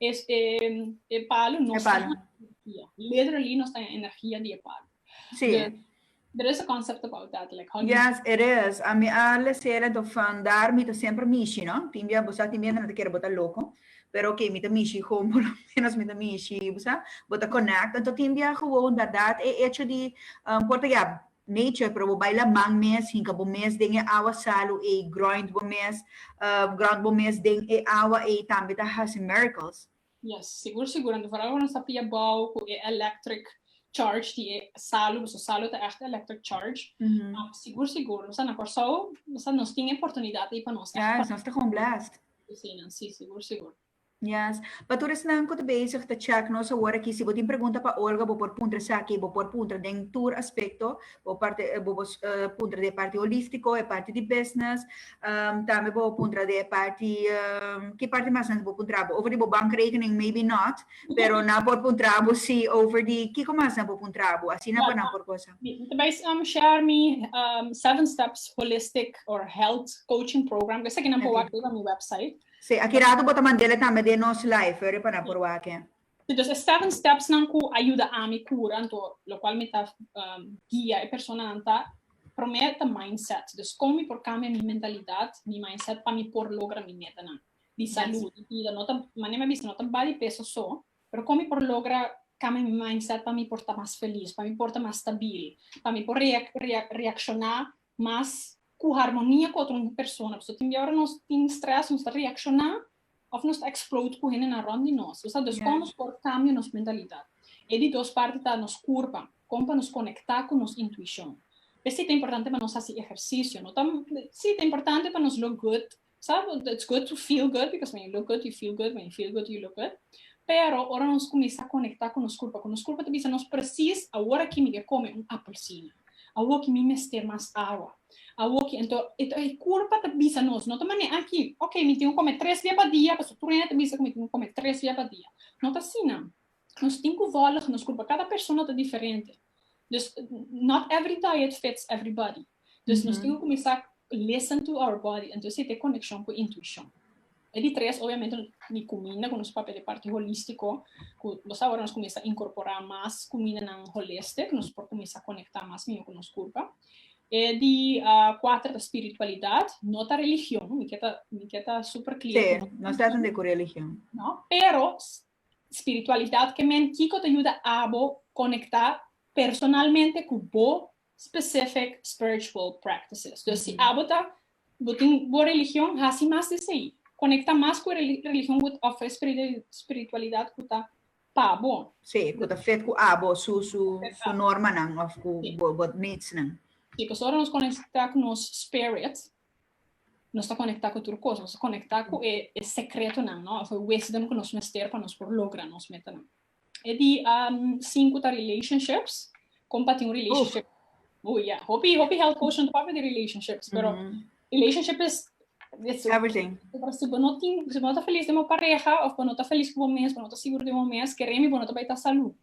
S1: Es e e palu nos ta na energia. Literally nos ta na energia di e palu. Si. Dus there is a concept about that like how. Yes it is. A mi a lesera to fan dar mi ta semper mishi no. Tin bia bo sa tin biahen nan ta kere bo ta loko pero oke mi ta mishi kon por lo menos mi ta mishi bo sa bo ta connect. Enton tin bia gewoon dadad e hecho di por ta ya. Nature pero bo bai la man mes hinka bo mes den e awa salu ei ground bo mes ground bo mes den e awa ei tambe ta hasi miracles. Yes sigur sigur anto vooral ora nos ta pia bouw cu e electric charge di e salu pasobra salu ta echt electric charge sigur sigur nos ta na Corsou nos tin e oportunidad ei pa nos echt parai. Yes nos ta gewoon blessed. Asina si sigur sigur. Yes. Pa tur esnan cu ta bezig ta check nos awor aki, si bo tin pregunta pa Olga bo por puntra esaki, bo por puntra den tur aspecto, bo por puntra di e parti holistico, e parti di business, tambe bo puntra di e parti, ki parti mas nan bo puntra abo? Over di bo bankrekening maybe not, pero nan por puntra abo si over di kico mas nan bo puntra abo, asina pa nan por cosa. Mi ta bay share mi seven steps holistic or health coaching program cu esaki nan por wak riba mi website. Sí, aki rato bo ta mandele tambe den nos live riba na por wak e. Sí, dus e seven stepsnan ku a yuda ami kura, anto lokual mi ta guia e personanan ta, promé ta mindset, dus kon mi por kambia mi mentalidat, mi mindset pa mi por logra mi metanan di salú, di bida, no ta, manera mi a bisa no ta ba di peso so, pero kon mi por logra kambia mi mindset pa mi por ta mas felis, pa mi por ta mas stabil, pa mi por reak reak reakshoná mas ku harmonia ku otro persona, pasobra tin biaora nos tin strès, nos ta reakshoná òf nos ta eksplod ku hendenan rònt di nos. Lo sa dus kon nos por kambia nos mentalidat? E di dos parti ta nos kurpa, kon pa nos konektá ku nos intuishon? P'esei ta importante pa nos hasi ehersisio, no ta si ta importante pa nos look good Sa, it's good to feel good, because when you look good you feel good, when you feel good you look good. Pero ora nos cuminsa conecta cu nos culpa, cu nos culpa ta bisa nos precies awor aki mi ke come un apelsina, awor aki mi mester mas awa, awor aki, ento e culpa ta bisa nos, no ta manera aki, ok, mi tin cu come tres bia pa dia, pasobra tur hende ta bisa cu mi tin cu come tres bia pa dia, no ta asina. Nos tin cu volg nos culpa, cada persona ta diferente. Dus not every diet fits everybody. Dus nos tin cu cuminsa listen to our body, entonces esta e coneccion cu intuicion. E di tres obviamente di cuminda cu nos papia di parti holistico, cu los awor nos cuminsa incorpora mas cumindanan holistic, nos por cuminsa conecta mas miho cu nos culpa. E di cuater ta spiritualidad, no ta religion, mi ke ta mi ke ta super clear. Sí, no ta cu religion. No, pero Spiritualidat ke men Kiko ta yuda abo konektá personalmente ku bo specific spiritual practices. Dus si abo ta bo tin bo religion hasi mas di esei. Konektá mas ku e religion ku ta ofre spiritualidat ku ta pa bo. Sí, ku ta fit ku abo su normanan òf ku bo needs nan. Sí, pasobra nos konektá ku nos spirit, nos ta konektá ku tur kos, nos ta konektá ku e sekretonan no, òf e wisdom ku nos mester pa nos por logra nos metanan. E di sinku ta relationships, kon pa tin un relationship. Oh ya, hopi hopi health coach no ta papia di relationships, pero relationship is Everything. si bo no tin, si bo no ta feliz den bo pareha, òf bo no ta feliz ku bo mes, bo no ta sigur den bo mes, kere mi bo no ta bai ta salú.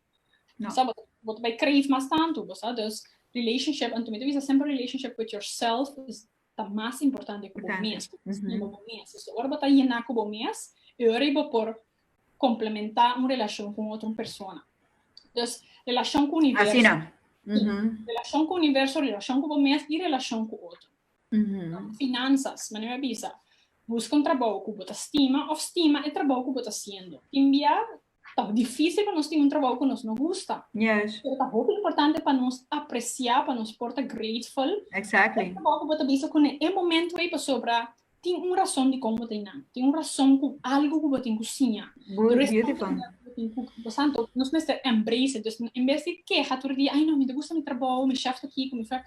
S1: No. Sa bo, bo ta bai crave mas tantu, bo sa. Dus relationship, anto mi ta bisa semper relationship with yourself is ta mas importante ku bo mes, ku bo stima bo mes. So ora bo ta yena ku bo mes, e ora ei bo por komplementá un relashon ku un otro persona. Dus relashon ku universo. Asina. Relashon ku universo, relashon ku bo mes i relashon ku otro. Finansas, manera mi a bisa, buska un trabou ku bo ta stima òf stima e trabou ku bo ta hasiendo. Tin bia Ta difícil pa nos tin un trabou cu nos no gusta. Yes. Pero ta hopi importante pa nos apreciá, pa nos por ta grateful Exactly. e trabou cu bo ta bisa cu na e momento ei pasobra tin un rason dicon bo ta einan. Tin un rason cu algo cu bo tin cu siña. Bo es beautiful. Pasanto nos mester embrace it. Dus en bes di keha tur e dia, ay no, mi no ta gusta mi trabou, mi shèf ta kiko, mi shèf.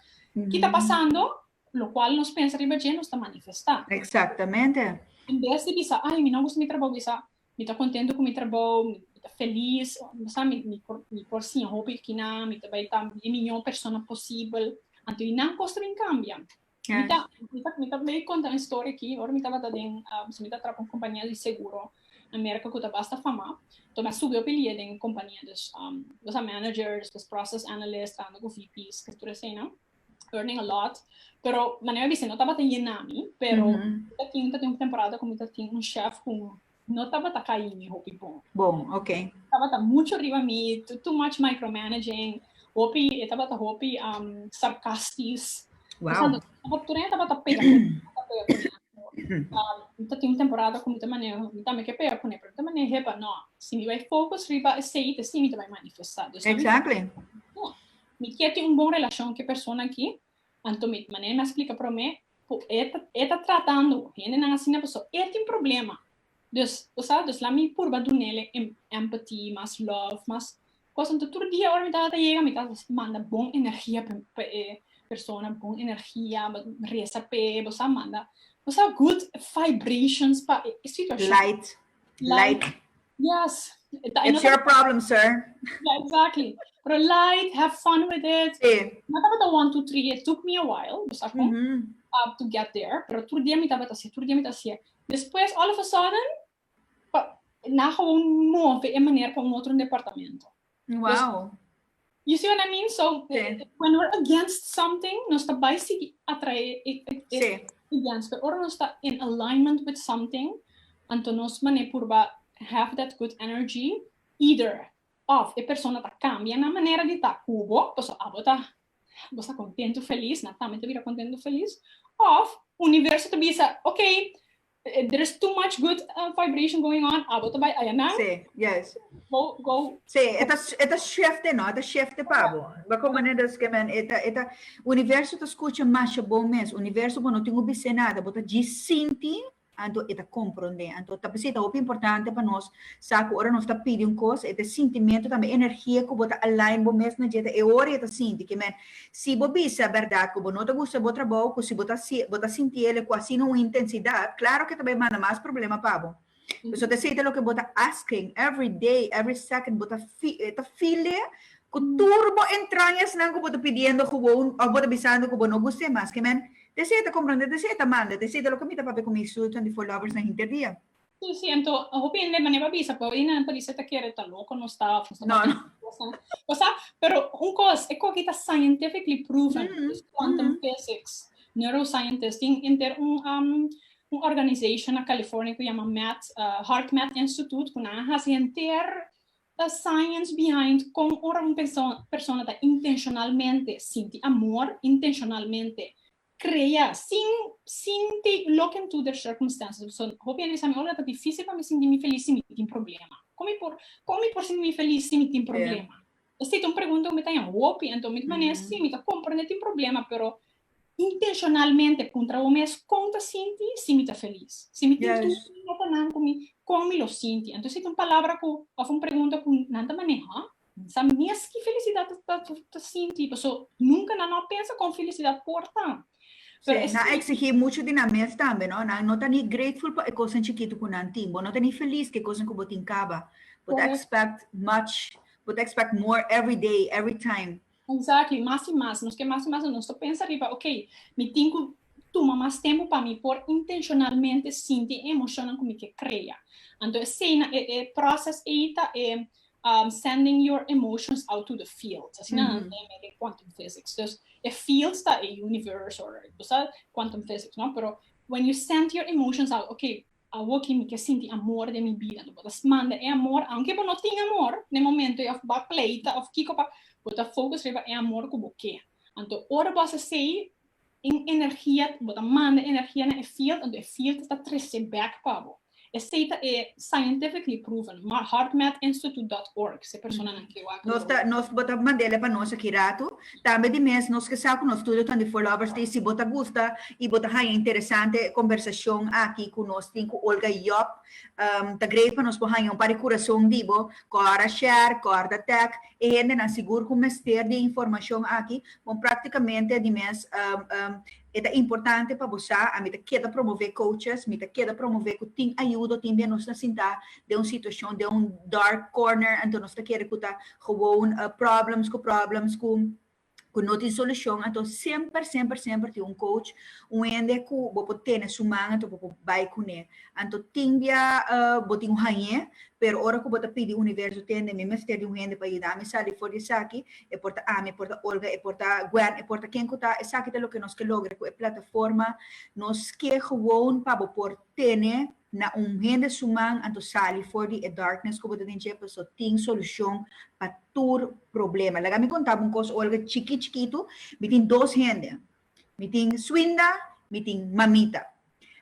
S1: Ki ta pasando? Locual nos pensa riba dje, nos ta manifestá. Exactamente. En bes di bisa, ay mi no gusta mi trabou, bisa, Mi ta kontentu ku mi trabou, mi ta felis, bo sa mi mi por siña hopi kinan, mi ta bai ta e miñó persona posibel, anto i nan kos ta bin kambia. Mi ta mi ta bai konta un storia aki, ora mi tabata den pasobra mi ta traba pa un kompania di seguro na Merka ku ta basta famá, to mi a subi hopi lia den e kompania, bo sa managers, despròses analists, trabando ku VP's, tur eseinan. earning a lot, pero manera mi no tabata llena mi, pero mm -hmm. ta tin, ta tin un temporada como ta tin un chef como no tabata caí mi hopi bon. Bon, ok. Tabata mucho riba mi, too, too much micromanaging, hopi, e tabata hopi um, sarcastis. Wow. Tabata, tabata, tabata pega, tabata pega con um, ta tin un temporada como ta manera, mi también que pega con pero ta manera hepa, no, si mi vai focus riba ese, te si mi te vai manifestar. Exactly. Mi kier tin un bon relacion cu e persona aki, anto mi ta manera mi a splica prome cu e ta e ta tratando hendenan asina paso e tin problema. Dus, bo sa, dus laat mi purba dunele em empathy, mas love, mas cos. Anto tur dia ora mi tabata yega mi tabata manda bon energia pa pa e persona, bon energia, reza p'e, bo sa, manda, bo sa, good vibrations pa e situacion. Light, Light. light. Yes. It's your problem, sir. Yeah, exactly. Pero light, have fun with it. Sí. No estaba de one, two, three. It took me a while. Dus mm -hmm. uh, to get there. Pero tur día me estaba así, tur día me estaba así. Después, all of a sudden, na gewoon move en manera con otro departamento. Wow. You see what I mean? So sí. Eh, eh, when we're against something, nos está by sigui atrae e, e, e, sí. against, pero ora nos está in alignment with something, anto nos mané purba have that good energy, either of e persona ta cambia na manera de ta cubo, pues abo ta você está contento, feliz, na também te vira contento, feliz, of universo te bisa, ok, There is too much good uh, vibration going on. Abo te bai ayanan. Sí, yes. Go, go. Sí, eta, eta shifte, no? Eta shifte pabo. Ba como ne dus que men, eta, eta, universo ta escucha masha bon mes. Universo bo no tengo bise nada, bo ta gisinti, anto eta comprende. Anto ta pesita hopi importante pa nos, sa ku ora nos ta pidi un kos, eta sentimento tambe energia ku bo ta align bo mes na jeta, e ora eta sinti, que men, Si bo bisa berdad cu bo no ta gusta bo trabou, cu si bo ta si bo ta sinti ele cu asina un intensidad, claro que ta bay manda mas problema pa bo. Pasobra esey ta loke bo ta asking every day, every second, bo ta fi ta file cu tur bo entraña esnan cu bo ta pidiendo gewoon of bo ta bisando cu bo no gusta e mas. Kiemen ta esey ta comprende, ta esey ta manda, ta esey ta loke mi ta papia cu mi su twenty four lovers na hinter dia. Si, si, anto hopi hende mane pa bisa, pero Inan ta bisa ta kere ta loko nos ta of nos ta No, no. pasobra cosnan. Bo sa, pero un cos, e cogi ta scientifically proven, Mhm, this quantum mhm. physics, neuroscientist, tin enter un um, un organization na California cu yama Math, uh, HeartMath Institute, cu nan a haci henter uh, science behind con ora un perso- persona ta intencionalmente sinti amor, intencionalmente crea sin sin take loke into the circumstances so hopi hende sa mi ora ta dificil pa mi sinti mi feliz si mi tin problema como mi por como mi por sinti mi feliz si mi tin problema esta ta un pregunta cu mi ta hen hopi enton mi ta manera si mi ta comprende tin problema pero intencionalmente puntra bo mes con ta sinti si mi ta feliz si mi tin tur cosa nan cu mi con mi lo sinti enton esta ta un palabra cu of un pregunta cu nan ta maneha N sa mes ki felisidat ta sinti, pasobra nunka nan no a pensa kon felisidat por ta. Sí, nan a eksigí muchu di nan mes tambe, no? Nan no ta ni grateful pa e kosnan chikitu ku nan tin. Bo no ta ni felis ku e kosnan ku bo tin kaba. Bo ta ekspèkt much, bo ta ekspèkt more every day, every time. Exactly, mas i mas, nos ke mas i mas, nos ta pensa riba ok, mi tin ku tuma mas tempu pa mi por intenshonalmente sinti e emoshonnan ku mi ke krea. Anto esei na e proses ei ta e sending your emotions out to the fields, asina nan ta lei den quantum physics. Dus e fields ta e universe or bo sa quantum physics no, pero when you send your emotions out, ok, Awo ki mi ke sinti amor den mi bida, lo bo ta manda e amor, aunke bo no tin amor den momento ei of bo a pleita of kiko pa, bo ta focus riba e amor ku bo ke. Anto ora bo a hasi esei, un energia, bo ta manda energia na e field, anto e field ta trese back pa bo. Esei ta e scientifically proven, HeartMath Institute dot org, se personanan ke wak lo. Nos ta, nos, bo ta manda el e pa nos aki rato. Tambe di mes nos ke sa ku nos studionan di Voorlovers tin. Si bo ta gusta i bo ta haña interesante e kombersashon aki ku nos tin ku Olga i Job, ta grei pa nos por haña un par di kurason di bo, Cora Sher, Corda Tech, e hendenan sigur ku mester di e informashon aki, bon praktikamente di mes. E ta importante pa bo sa, ami ta keda promové coaches, mi ta keda promové ku tin ayudo, tin bia nos na sintá den un situashon, den un dark corner, anto nos ta kere ku ta gewoon problems ku problems ku ku no tin solushon. Anto semper, semper, semper tin un coach, un hende ku bo por tene su man, anto bo por bai kuné. Anto tin bia bo tin un hañ'é, pero ora ku bo ta pidi universo tende mi mester di un hende pa yuda mi sali for di esaki, e por ta ami, e por ta Olga, e por ta Gwen, e por ta ken ku ta, esaki ta loke nos ke logra ku e plataforma, nos ke gewoon pa bo por tene na un hende su man anto sali for di e darkness ku bo ta den dje, paso tin solushon pa tur problema. Laga mi konta bo un kos Olga, chikí chikitu, mi tin dos hende, Mi tin Swinda, mi tin Mamita.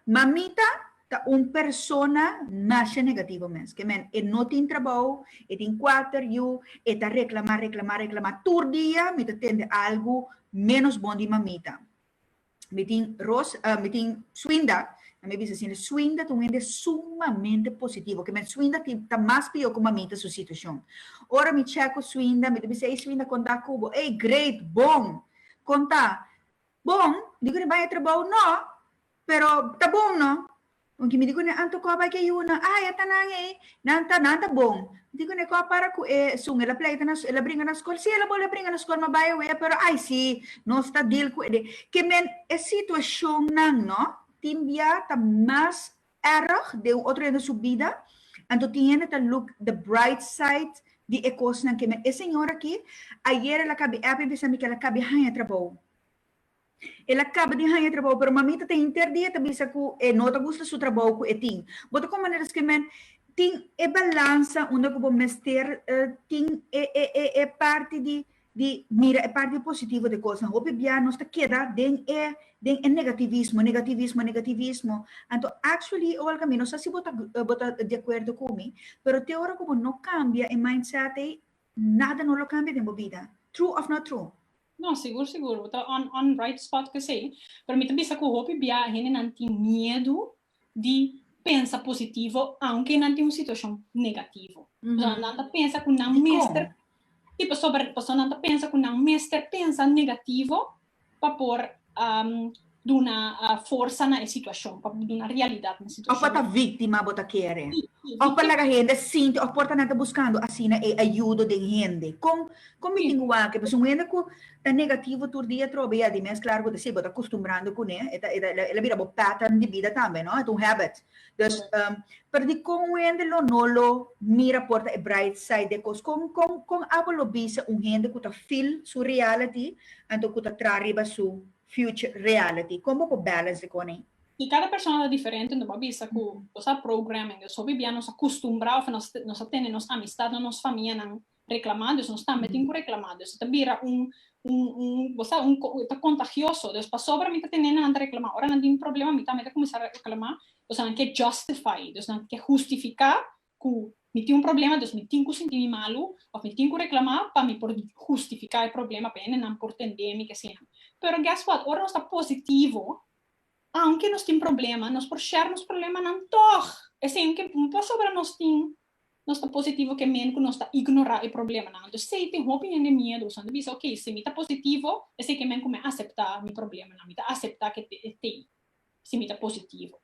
S1: Mamita ta un persona nasha negativo mes. Ke men e no tin trabou, e tin kuater yu, e ta reklamá, reklamá, reklamá tur dia. Mi ta tende algu ménos bon di Mamita. Mi tin Ros, mi tin Swinda, nan mi bisa asin, Swinda ta un hende sumamente positivo. Ke men Swinda tin, ta mas pió ku Mamita su situashon. Ora mi chèk ku Swinda, mi ta bisa, ey Swinda, kondá kubo? Ey, great, bon! Kon ta? Bon, di ku ne bai e trabou? No, pero ta bon no. Kon ki mi di ku ne an tokó bai ki e yunan? Ah, e ta nan ei. Nan ta, nan ta bon. Mi di ku ne kua para ku e sun. El a pleita na, el a bringa na skol. Si, el a bole a bringa na skol, m'a bai awe, pero ai si, nos ta deal ku e de. Ke men e situashonnan no tin bia ta mas erg den un otro hende su bida, anto tin hende ta look the bright side di e kosnan ke men e señor aki ayer el a kabi epi bisa mi ke el a kabi haña trabou. El a kaba di haña trabou pero mamita ta hinter di e ta bisa ku e no ta gusta su trabou ku e tin. Bo ta kon manera esque men tin e balansa unda ku bo mester tin e parti di di mira e parti positivo di e kosnan. Hopi bia nos ta keda den e den e negativismo, negativismo, negativismo. Anto actually, Olga, mi no sa si bo ta bo ta di akuerdo ku mi, pero te ora ku bo no kambia e mindset ei, nada no lo kambia den bo bida. True of not true? No, sigur sigur, bo ta on on right spot cu esey. Pero mi ta bisa cu hopi bia hendenan tin miedu di pensa positivo aunke nan tin un situacion negativo. Pasobra nan ta pensa cu nan mester, si pasobra, pasobra nan ta pensa cu nan mester pensa negativo pa por duna forsa na e situacion, pa por duna realidad na e situacion. Of pa ta victima bo ta kere. Si, si. Of pa laga hende sinti, of por ta nan ta buscando asina e ayudo den hende. Con, con mi tin wak e? Pasobra un hende cu. Ta negativo tur dia trobe ya di mes klar bo ta si bo ta kustumbrando kuné e ta el a bira bo pattern di bida tambe no e ta un habit dus pero di kon un hende lo no lo mira por ta e bright side di e kos kon kon kon abo lo bisa un hende ku ta feel su reality anto ku ta traha riba su future reality kon bo por balance e kon ei? I kada persona ta diferente anto bo a bisa ku bo sa programming dus hopi bia nos a kustumbrá òf nos a tene nos amistad no nos famianan Reklamá, dus nos tambe tin ku reklamá. Dus e ta bira un, un, un, bo sa, un, e ta kontagioso. Dus pasobra mi ta tene nan ta reklamá, ora nan tin problema mi tambe ta kuminsá reklamá, dus nan ke justify, dus nan ke hustifiká ku mi tin un problema, dus mi tin ku sinti mi malu òf mi tin ku reklamá pa mi por hustifiká e problema, pa hende nan por tende mi, ke asina. Pero guess what, ora nos ta positivo, aunke nos tin problema, nos por share nos problemanan tòg. Esei un ke pasobra nos tin Nos ta positivo ke men ku nos ta ignorá e problemanan. Anto esei tin hopi hende miedu. Esnan ta bisa, ok, si mi ta positivo, esei ke men ku mi aseptá mi problemanan. Mi ta aseptá ke e ta ei, si mi ta positivo.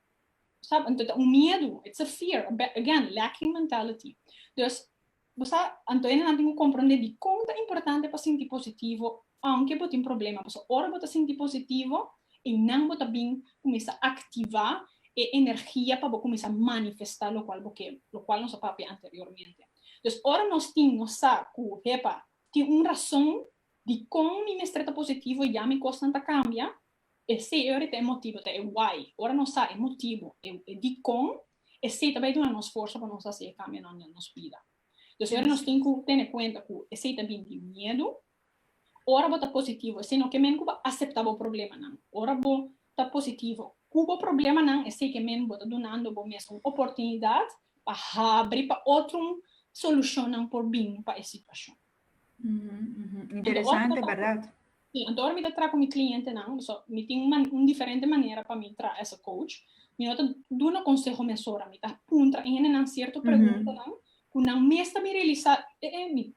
S1: Bo sa, anto ta un miedu. It's a fear. Again, lacking mentality. Dus, bo sa, anto hendenan tin ku komprondé dikon ta importante pa sinti positivo Aunke bo tin problema, pasobra ora bo ta sinti positivo, einan bo ta bin kuminsá aktivá e energia pa bo kuminsá manifestá lokual bo ke, lokual nos a papia anteriormente. Entonces, ora nos tin, nos sa ku, hepa, tin un rason dikon mi mester ta positivo, ya mi kosnan ta kambia, esei ora ta e motibu, ta e why. Ora nos sa e motibu, e dikon, esei ta bai duna nos forsa pa nos hasi e kambionan den nos bida. Entonces, ora nos tin ku tene kuenta ku esei ta bin di miedu, Ora bo ta positivo, esei no ke men ku bo aseptá bo problemanan. Ora bo ta positivo ku bo problemanan, esei ke men bo ta dunando bo mes un oportunidat pa habri pa otrun solushonnan por bin pa e situashon. Interesante, bèrdat? Sí, anto ora mi ta traha ku mi klientenan, bisou mi tin un diferente manera pa mi traha as a coach. Mi no ta duna konseho mesora, mi ta puntra hendenan sierto preguntanan Cu nan mes ta mi realisa, eh eh, mi,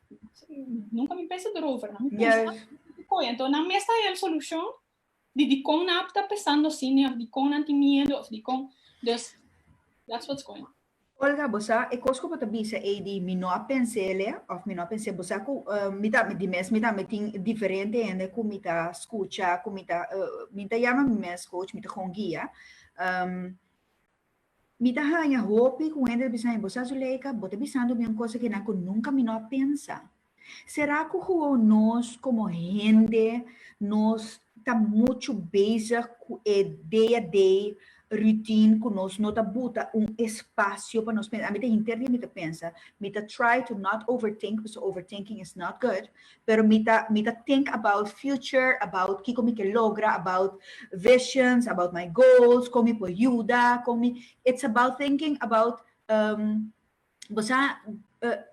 S1: nunca mi pensa erover, no mi pensa, yes. ah, entonces nan mes ta el solucion di di con nan ta pensando así, ni di con nan tin miedo, of di con, dus, that's what's going on. Olga, bo sa, e cos cu bo ta bisa ey di mi no a pensele, of mi no a pense, bo sa cu, uh, mi ta, di mes mi tambe tin diferente hende cu mi ta scucha, cu mi ta, uh, mi ta yama mi mes coach, mi ta con guia, um, Mi ta haña hopi ku hende ta bisa mi, bo sa su Leika, bo ta bisando mi un kos aki nan ku nunka mi no a pensa. Sera ku huou nos komo hende nos ta muchu bezig ku e day a day routine ku nos no ta buta un espasio pa nos pensa? Mi ta hinter di mi ta pensa, mi ta try to not overthink pasobra overthinking is not good, pero mi ta mi ta think about future about kiko mi ke logra about visions about my goals kon mi por yuda kon mi it's about thinking about um bo sa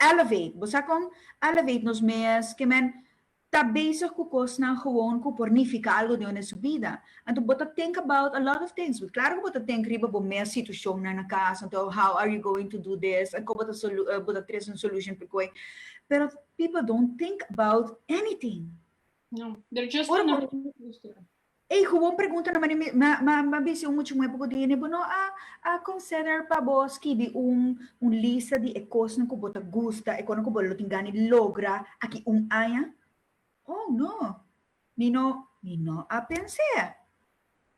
S1: elevate bo sa kon elevate nos mes ke men ta bezig ku kosnan gewoon ku por nifiká algu den su bida anto bo ta think about a lot of things klaro ku bo ta think riba bo mes situashonnan na kas anto how are you going to do this kon bo ta bo ta tres un solution p'e koe pero People don't think about anything. No, they're just Ora gonna por- do this to them. Ei gewoon pregunta na mane mi- ma ma ma bisi un muchi muhe poco di hende bo no a a consider pa bo skibi un un lista di e cosnan cu bo ta gusta, e cosnan cu bo lo tin gana di logra aki un aña? Oh no, mi no mi no a pens'e.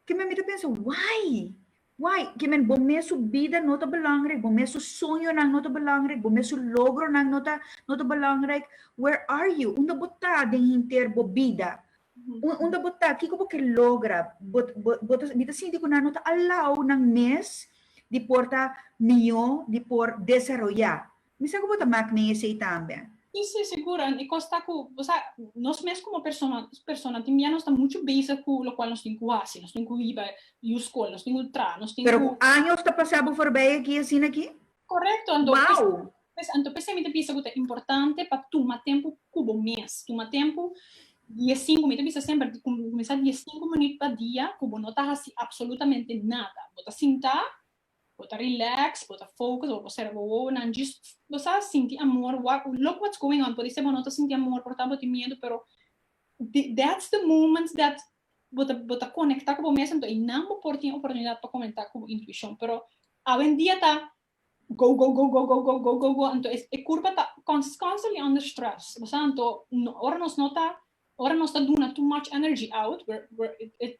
S1: Ke men mi ta pensa, why? Why? Ke men bo mes su bida no ta belangrek, bo mes su soñonan no ta belangrek, bo mes su logronan no ta no ta belangrek. Where are you? Unda bo ta den hinter bo bida? Unda bo ta? Kiko bo ke logra? Bo bo bo ta mi ta sinti ku nan no ta alou nan mes di por ta mihó, di por desaroyá. Mi sa ku bo ta mak men esei tambe. Si, si, sigur. An e kos ta ku, bo sa, nos mes komo persona, persona tin bia nos ta muchu bezig ku lokual nos tin ku hasi. Nos tin ku hiba yu skol, nos tin ku traha, nos tin ku. Pero ku años ta pasá bo forbei aki asina aki? Korekto, anto p'es, Wou! p'es, anto p'esei mi ta bisa ku ta importante pa tuma tempu ku bo mes. Tuma tempu di e sinku, mi ta bisa semper, di kuminsá di e sinku minüt pa dia ku bo no ta hasi apsolutamente nada. Bo ta sintá Bo ta relax, bo ta focus, bo por sera bo wowonan djis. Bo sa sinti amor, wak, look what's going on, pudi ser bo no ta sinti amor, por tabata bo tin miedu, pero di, that's the moments that bo ta, bo ta conecta cu bo mes, anto eynan bo por tin oportunidad pa comenta cu bo intuicion, pero awendia ta go, go, go, go, go, go, go, go, go, anto e, e curba ta cons, constantly under stress, bo sa, anto no, ora nos no ta Ora nos ta duna too much energy out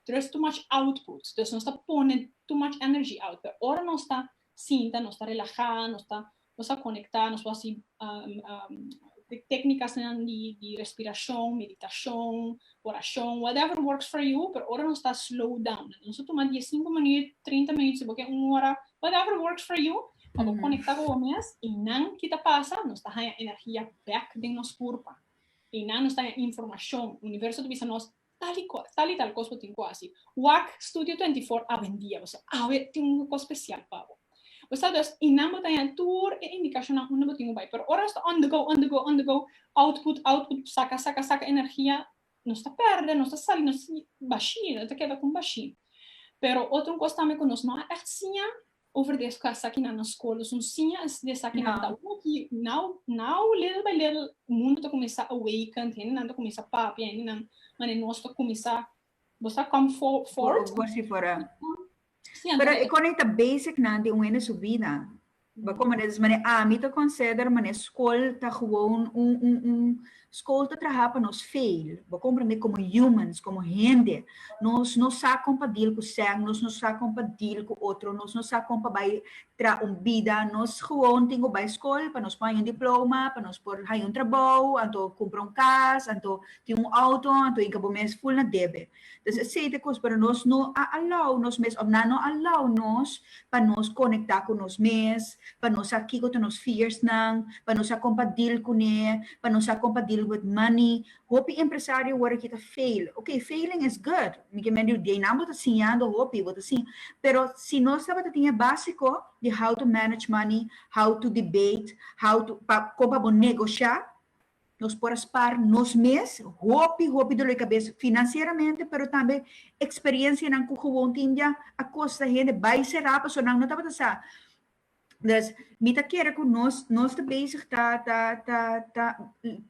S1: there is too much output dus nos ta pone too much energy out pero ora nos ta sinta nos ta relaha nos ta nos ta conecta nos por hasi di tecnicanan di respiracion meditacion oracion whatever works for you pero ora nos ta slow down nos ta tuma dies cinco minut trinta minut si bo ke un ora whatever works for you pa bo conecta cu bo mes y nan kita pasa nos ta haya energia back den nos curpa. y nan nos ta den informacion, universo ta bisa nos tal y cual, tal y tal cos bo tin cu haci, wak Studio 24 a bendia bo, so awe tin un cos special pa bo, bo sa dus y nan bo ta den tur e indicacionnan unda bo tin cu bay, pero ora nos ta on the go, on the go, on the go, output, output, saca, saca, saca energia, nos ta perde, nos ta sali, nos ta bashí, nos ta keda cu un bashí, pero otro cos tambe cu nos no a echt siña, over di escos aki na nos scolos, un siña di esakinan ta ora ki now now little by little mundo ta cuminsa awakened, hendenan ta cuminsa papia, hendenan mane nos ta cuminsa bosa come fo fort, Bo bosi for a si anto pero e core e ta basic nan di un hende su bida, ba como des mane ami ta consider mane scol ta gewoon un un un Skol ta traha pa nos fail, bo komprende, komo humans, komo hende. Nos no sa kon pa deal ku sèn, nos no sa kon pa deal ku otro, nos no sa kon pa bai traha un bida. Nos gewoon tin ku bai skol pa nos por haña un diploma, pa nos por haña un trabou, anto kumpra un kas, anto tin un outo, anto yega bo mes ful na debe. Dus esei ta e kos, pero nos no a alou nos mes, òf nan no a alou nos pa nos konektá ku nos mes, pa nos sa kiko ta nos fearsnan, pa nos sa kon pa deal kuné, pa nos sa kon pa deal with money. Hopi empresario wòrdu ke ta fail. Oké, failing is good, mi ke mende yu di ei, nan bo ta siñando hopi, bo ta siña, pero si nos tabata tin e básiko di how to manage money, how to debate, how to, pa kon pa bo negosha, Nos por a spar nos mes hopi hopi doloi kabes finansieramente pero tambe eksperiencianan ku gewoon tin dja a kosta hende bai será paso nan no tabata sa. Dus mi ta kere ku nos nos ta bezig ta ta ta ta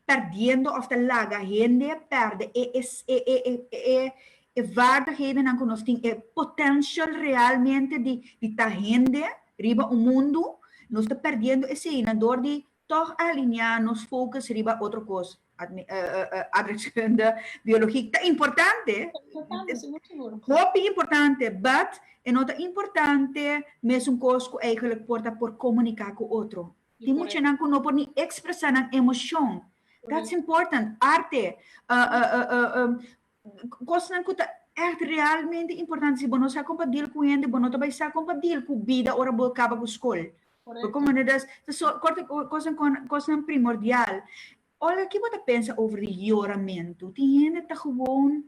S1: perdiendo òf ta laga hende pèrdè e e e e vaardighedennan ku nos tin, e potential realmente di di ta hende riba un mundu, nos ta perdiendo eseinan dor di Tòg alineá nos fokus riba otro kos. Aardrijkskunde, biologie ta importante, hopi importante, but e no ta importante mesun kos ku eigenlik por ta por komuniká ku otro. Tin muchanan ku no por ni ekspresá nan emoshon. That's important. Arte, Cosnan cu ta echt realmente importante, si bo no sa con pa deal cu hende, bo no ta bay sa con pa deal cu bida ora bo caba cu scol. Bo comprende? Dus, ta so, corta cu cosnan con, cosnan primordial. Olga, ki bo ta pensa over di yoramento? Tin hende ta gewoon,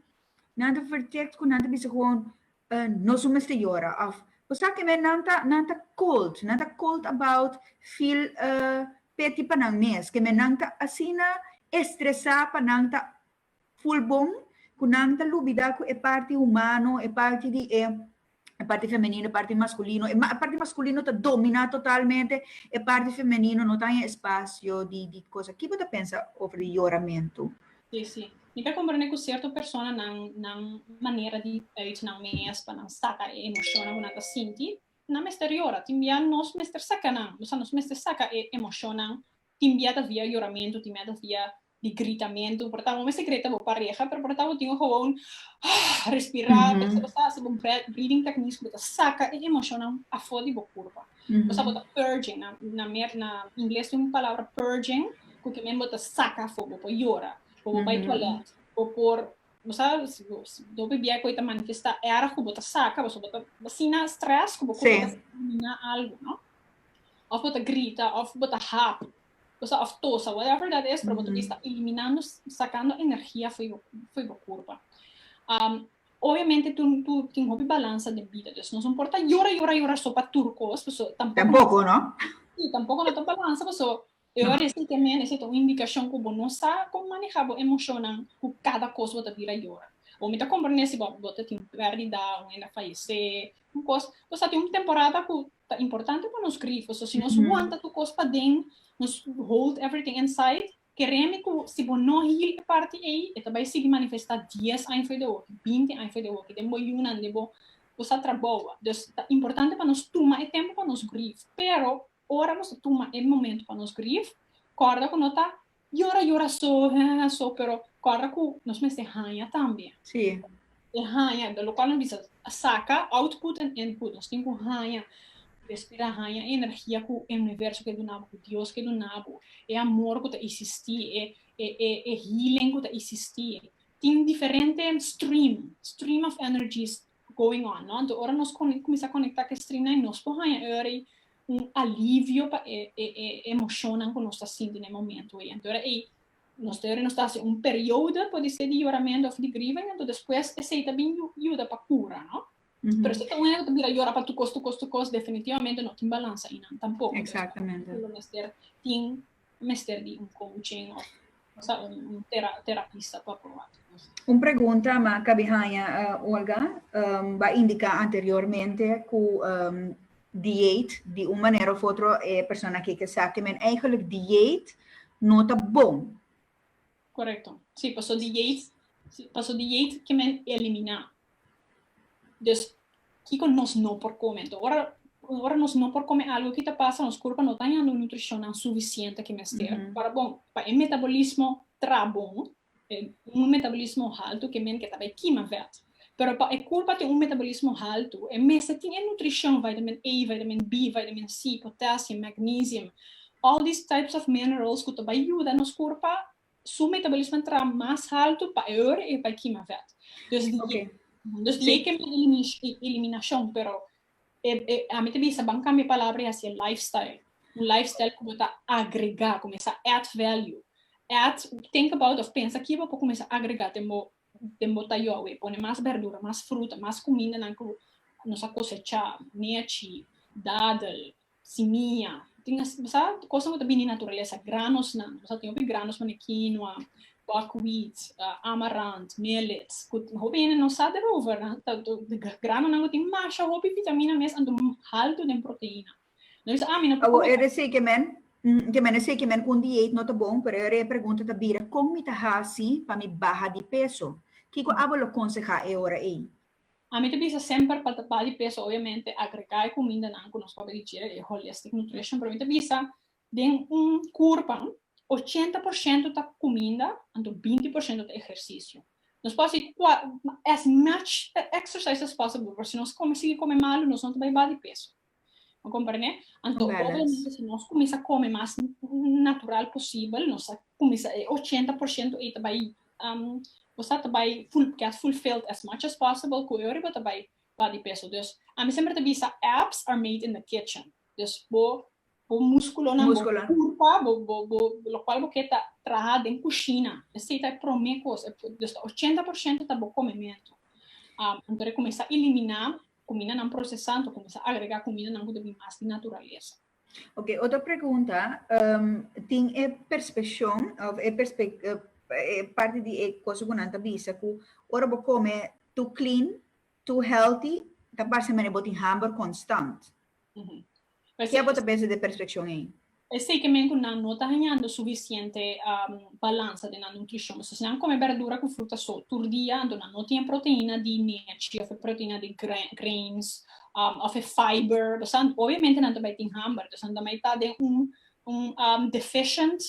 S1: nan ta vertict cu nan ta bisa gewoon, Nos no mester yora, of, Bo sa kimen, nan ta, nan ta cold, nan ta cold about feel pity pa nan mes. Kimen nan ta asina estresa pa nan ta Full bon cu nan ta lubida cu e parti humano, e parti di e parti femenino, e parti masculino, e parti masculino ta domina totalmente, e parti femenino no ta haya espacio di di cosa. Ki bo ta pensa over di yoramento? Si, si. Mi ta comprende cu cierto persona nan nan manera di uit nan mes pa nan saca e emocionnan cu nan ta sinti, nan mester yora. Tin bia nos mester saca nan, nos mester saca e emocionnan tin bia ta via yoramento, tin bia ta via di gritamentu por tabata bo mester grita bo pareha pero por tabata bo tin e gewoon respira ta kisa bo ta hasi bo breathing techniques bo ta saka e emocionnan afo di bo kurpa pasobra bo ta purging na mer na ingles tin un palabra purging ku ki min bo ta saka afo bo por yora o bo bai tualet bo por bo sa domi biaha ku e ta manifesta erg ku bo ta saka pasobra bo ta asina stress ku bo kurpa ta elimina algu no of bo ta grita of bo ta hap o sa of tosa, whatever that is, pero bo ta bista eliminando, sacando energia for your, for your curpa. Um, obviamente tu, tu tin hopi balansa de vida, dus nos importa llora, llora, llora so pa tur cos, so, tampoco, tampoco no? Sí, tampoco no ta balansa, pues so, eu no. resi que men, esa é uma indicação que bo não sabe como manejar bo emocionan, que cada coisa bo ta vira llora. Ou me ta compreender se bo, bo ta tin pérdida, ou ainda fallece, un kos, nos ta tin un temporada ku ta importante pa nos grifo, so si nos wanta tur kos paden, nos hold everything inside, kerende ku si bo no heal e parti ei, e ta bai sigui manifestá dies aña for di awoki, binti aña for di awoki, den bo yunan, den bo sa trabou a. Dus ta importante pa nos tuma e tempu pa nos grif, pero ora nos ta tuma e momentu pa nos grif, kòrda ku no ta Yora yora so heheheh so pero corda cu nos mester hanja tambe. Sí. E hanja lo cual nos bisa saca output en input nos tin cu hanja respira hanja e energia cu e universo ke dunabo cu Dios ke dunabo e amor cu ta isisti e e healing cu ta isisti tin diferente stream stream of energies going on, no? Anto ora nos con, cuminsa conecta cu e stringnan y nos por haya earey un alivio pa e, e, e emocionnan cu nos ta sinti n'e momento ey. Anto ora ey, nos ta earey nos ta haci un periodo, por dice, di yoramento of di griva y anto despues esey ta bin yu, yuda pa cura, no? Pero si ta un hende cu ta bira yora pa tu cos, tu cos, tu cos, definitivamente no tin balans ayinan tampoco. Exactamente. Lo mester tin mester di un coaching of sa un un tera terapista pa proba tur cosa. Un pregunta ma cabi haya Olga um, ba indica anteriormente cu um, dieet di un manera of otro e persona keke sa ke men eigenlijk dieet no ta bon. Correcto. Sí, paso di Yates, paso di Yates que men elimina. Dus, kiko nos no por come? Enton, ora, ora nos no por come algo kita pasa, nos kurpa no ta yando nutricionnan suficiente ki mester. Mm -hmm. Para bon, pa e metabolismo trabon, e, un metabolismo halto ke men ke ta bai kima vet. Pero pa e kurpa tin un metabolismo haltu, e mester tin e nutrishon, vitamin A, vitamin B, vitamin C, potassium, magnesium, all these types of minerals ku ta bai yuda nos kurpa su metabolismo ta traha mas haltu pa e ora ei pa e kima vèt. Dus di ei, dus di ei ke mi ta eliminashon, pero ami ta bisa ban kambia e palabra i hasi e lifestyle, un lifestyle ku bo ta agregá, kumesa add value, add, think about of pensa kiba bo por kumesa agregá den bo den bo ta yogue e pone mas berdura, mas fruta, mas cumindanan cu nos a cosecha, nechi, dadel, simia, tin así, bo sa cosnan cu ta bini di naturalesa, granosnan, nos a tin hopi granos pasobra quinoa, buckwheat, amarant, millet, cu hopi hende no sa derover, granonan cu tin masha hopi vitamina mes anto halto den proteina. Awor e resei ke men ke men a seki men un diet no ta bon pero e repregunta ta bira kon mi ta hasi pa mi baha di peso? Kiko abo lo konsehá e ora ei? Ami ta bisa semper pa ta baha di peso obviamente agregá e kumindanan ku nos papia di dje e holistic nutrition pero mi ta bisa den un kur pan ochenta por shento ta kuminda anto binti por shento ta ehersisio nos por hasi as much exercise as possible pero si nos kome sigui kome malu nos no ta bai baha di peso. Bo komprende? Anto obviamente si nos kuminsá kome mas natural posibel, nos a kuminsá e ochenta por shento ei ta bai um kusá ta bai ful get fulfilled as much as possible ku e ora bo ta bai baha di peso. Dus ami semper ta bisa abs are made in the kitchen. Dus bo bo muskulonan bo Músculo. kurpa bo bo bo lokual bo ke ta traha den kushina. Esei ta e promé kos, e dus ta ochenta por shento ta bo komementu. Um anto de kuminsá eliminá Kumindanan prosesá ta kuminsá agregá kumindanan ku ta bin mas di naturalesa. Oke, otro pregunta, tin e perspeshon òf e parti di e kos ku nan ta bisa ku ora bo kome tu klin, tu hèlti, ta parse manera bo tin hàmber konstant. Ke bo ta pensa di e perfekshon ei? Esei ke men ku nan no ta hañando sufisiente balansa den nan nutrishon. Pasobra si nan kome berdura ku fruta so tur dia, anto nan no tin e proteina di nechi òf e proteina di greins òf e fiber. Obviamente nan ta bai tin hamber, entonces nan ta mai ta den un Un deficient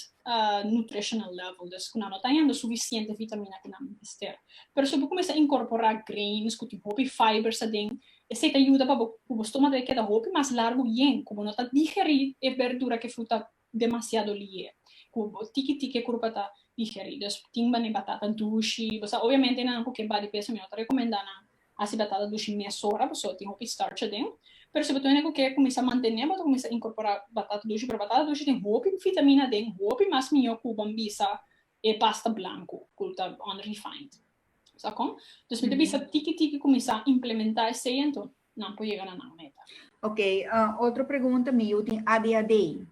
S1: nutritional level, des ku nan no ta hende sufisiente vitamina ku nan mester. Pero si bo kuminsá a inkorporá grains ku tin hopi fibers aden, esei ta yuda pa bo ku bo stomak ta keda hopi mas largu bien, ku bo no ta digerí e berdura ku e fruta demasiado lié, ku bo tiki tiki e kurpa ta digerí. Tin manera batata dushi, bo sa obviamente nan ku ke body peso mi no ta rekomendá nan A si bo ta ta dushi mesora, bo so tin hopi starch aden. Pero si bo ta wene ku ke kuminsá mantené, bo ta kuminsá inkorporá batata dushi. Pero batata dushi tin hopi vitamina aden, hopi mas mihó ku ban bisa e pasta blanku ku ta unrefined. Sa kon? Dus mi ta bisa tiki tiki kuminsá implementá esei anto nan por yega na nan meta. Oke, otro pregunta, mi yu tin ADHD.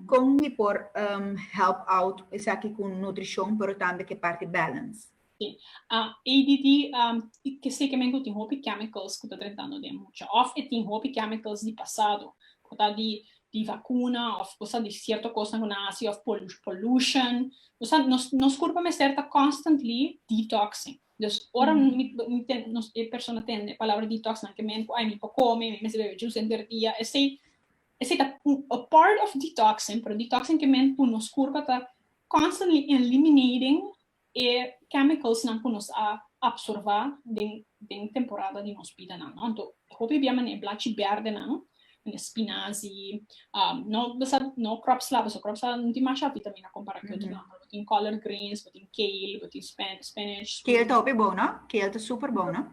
S1: Con mi por help out esaki cu nutricion pero tambe ke parti balance? ADD ke sekemen cu tin hopi chemicals cu ta trentando den mucha of e tin hopi chemicals di pasado cu ta di di vacuna of cosa di cierto cosnan cu nan haci of pollution nos sa nos curpo mester ta constantly detoxing dus ora e persona tende e palabra detox nan ke miente cu ay mi por come mi mester bebe juice henter dia esey Esei ta a part of detoxing, pero detoxing ke men ku nos kurpa ta constantly eliminating e chemicals nan ku nos a absorbá den den temporada di nos bida nan, no. Anto e hopi bia manera e blachi bèrdè nan, manera spinazi, no basada no kròp sla pasobra kròp sla no tin masha vitamina kompará ku otro nan, pero bo tin collard greens, bo tin kale, bo tin spinach. Kale ta hopi bon, no? Kale ta super bon, no?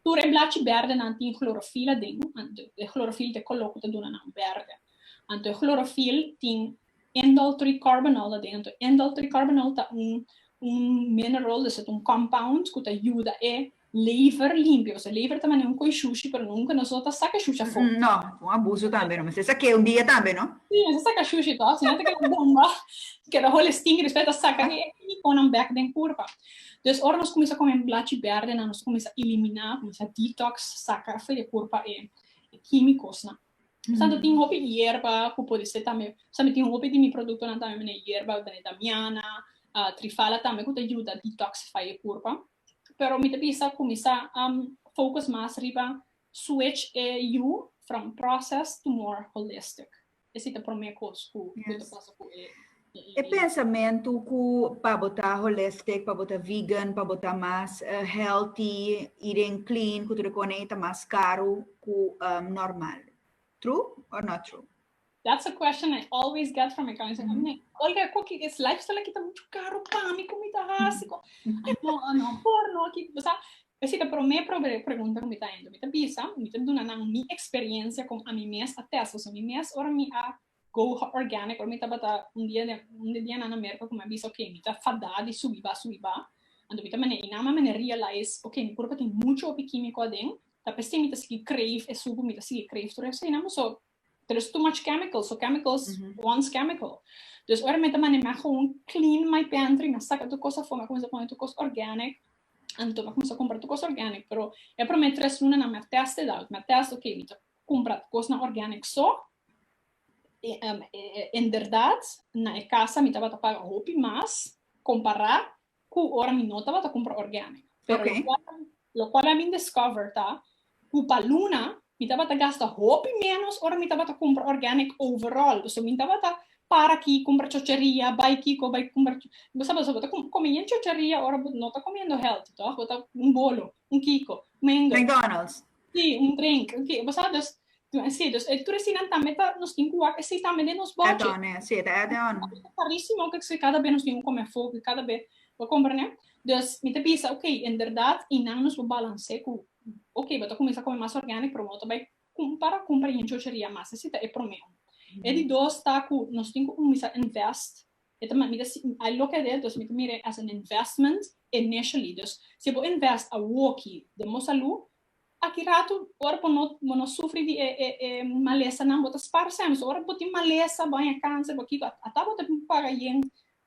S1: Tur e blachi bèrdenan tin chlorofil aden, anto e chlorofil t'e koló ku ta duna nan bèrdè. Anto e chlorofil tin indoltricarbonol aden, anto indoltricarbonol ta un un mineral, esat un compound ku ta yuda e lever limpio, pasobra lever ta manera un koi shushi pero nunka nos lo ta saka shushi afó. No, ta un abuso tambe no, mester ta sake'e un dia tambe no. Si, mester ta saka shushi tò, si no ta keda bomba, keda hole stinki, despues ta saka e kimikonan bèk den kurpa. Dus ora nos cuminsa come blachi berde nan nos cuminsa elimina, cuminsa detox, saca afue de curpa e quimicosnan. Portanto tin hopi yerba cu pode ser tambe, pasobra mi tin hopi di mi productonan tambe mi na yerba, mi ta na damiana, trifala tambe cu ta yuda detoxify e curpa. Pero mi ta bisa cuminsa focus mas riba switch e yu from process to more holistic. e si ta prome kos ku ku ta pasa ku e. E pensamentu ku pa bo ta holistic, pa bo ta vegan, pa bo ta mas healthy, eating clean, ku tur e kos nei ta mas karu ku normal. True or not true? That's a question I always get from e clients. Olga, ku ki es lifestyle aki ta muchu karu pa mi, ku mi ta hasi? Ai no, no por no aki, bo sa. Esei ta promé promé pregunta ku mi ta hende. Mi ta bisa, mi ta duna nan mi eksperiencia kon ami mes a testa su mi mes ora mi a go organic, ora mi tabata un dia den un di dianan na Merka ku mi a bisa ok mi ta fadá di subi ba subi ba, anto mi ta mane einan mi a mane realize ok mi kurpa tin muchu hopi kímiko aden, ta p'esei mi ta sigui kreef e suku, mi ta sigui kreef tur esei nan. Paso pero es too much chemical, so chemicals mm -hmm. wants chemical. Dus ora me ta manema gewoon clean my pantry, me saca tu cosa voor, me comienza poner tu cosa organic, en tu me comienza comprar tu cosa organic, pero e primer tres luna na me test het al, me test, oké, okay, me ta comprar tu cosa na organic so, e, um, e, e, inderdaad, na e casa me tabata paga hopi mas, compará, cu ora mi no tabata cumpra organic. Pero lo cual, lo cual a mi discover ta cu pa luna mi tabata gasta hopi menos ora mi tabata cumpra organic overall. Pasobra mi no tabata para aki cumpra chocheria, bay kico, bay cumpra kico. Bo sa pasobra bo ta come yen chocheria ora bo no ta comiendo healthy, toch? Bo ta un bolo, un kico, un mengele. McDonald's. Sí, un drink. Ok, bo sa, dus, sí, dus e tres dinan tambe ta, nos tin ku wak, e sí tambe den nos budget. Add-on, eh, sí, ta add-on. Ta karísimo, kiko kse kada be nos tin un kome afó, kiko kada be, bo komprende? Dus, mi ta bisa, ok, inderdat, i nan nos por balans'é ku, ok, bo ta kuminsá kome mas organic, pero bo ta bai kumpara, kumpara yen chocheria mas, esei ta e promé un. E di dos ta ku nos tin ku kuminsá invest E ta mira, mi ta si ai loke aden, entonces mi ta mira e as an investment initially. Dus si bo invest awoki den bo salu, aki ratu ora bo no bo no sufri di e e e malesanan bo ta spar semper. So ora bo tin malesa, bo haña kanser, bo kiko, ata bo ta bin paga yen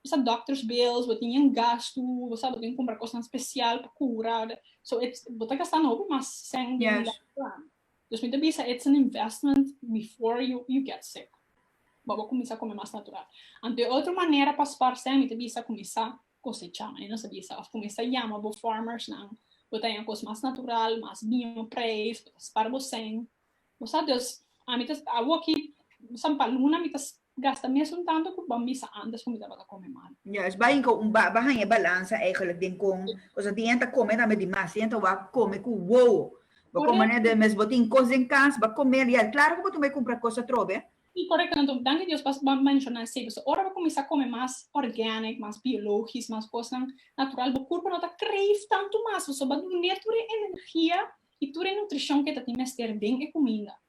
S1: bisat doctor's bills, bo tin yen gastu, bo sa bo tin kumpra kosnan spesial pa kura, so bo ta gastando hopi mas sèn den un latu. Dus mi ta bisa it's an investment before you you get sick. Bo bo cuminsa come mas natural. Anto e otro manera pa sparsé mi ta bisa cuminsa cosecha. Mi no sa bisa of cuminsa yama bo farmers nan bo ta haña cos mas natural, mas biño prijs, bo ta spar bo seng. Bo sa, dus ami ta awo aki san pa luna mi ta Gasta mes un tanto cu bo misa antes cu mi tabata come mal. Juist, bo hinca un baba haña e balansa eigenlijk den con cosa tin enta come tambe dimas, tin enta wak come cu wowo. Bo con mane den mes bo tin cos den cas, bo comel y al claro cu bo tin bay cumpra cos atrobe. Si, correcto, nan to danki Dios pas bo menciona e seco. So ora bo cuminsa come mas organic, mas biologisch, mas cosnan natural, bo curpo no ta crave tanto mas, pasobra bo ta dune tur e energia y tur e nutricion cu e ta tin mester den e cuminda.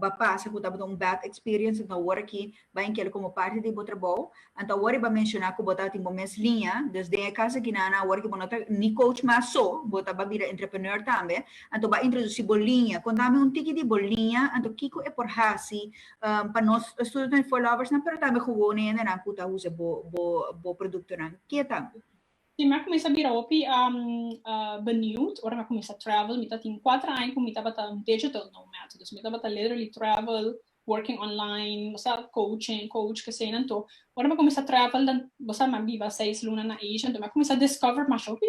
S1: ba pasa cu tabata un bad experience enton awor aki bay inclui como parti di bo trabao anto awor y ba menciona cu bo tabatin bo mes liña dus den e cas aki nana awor aki bo no ta ni coach mas so bo ta ba bira entrepreneur tambe anto ba introduci bo liña conta mi un tiki di bo liña anto kico e por haci pa nos student followers nan pero tambe gewone hendenan cu ta usa bo bo productonan kieta. Tin m'a cuminsa bira hopi benieuwd ora m'a cuminsa travel. Mi ta tin cuater aña cu mi tabata un digital nomad. Dus mi tabata literally travel, working online, bo sa, coaching, coach, keseynan to. Ora m'a cuminsa travel den, bo sa, m'a biba seis luna na Asia, enton m'a cuminsa discover masha hopi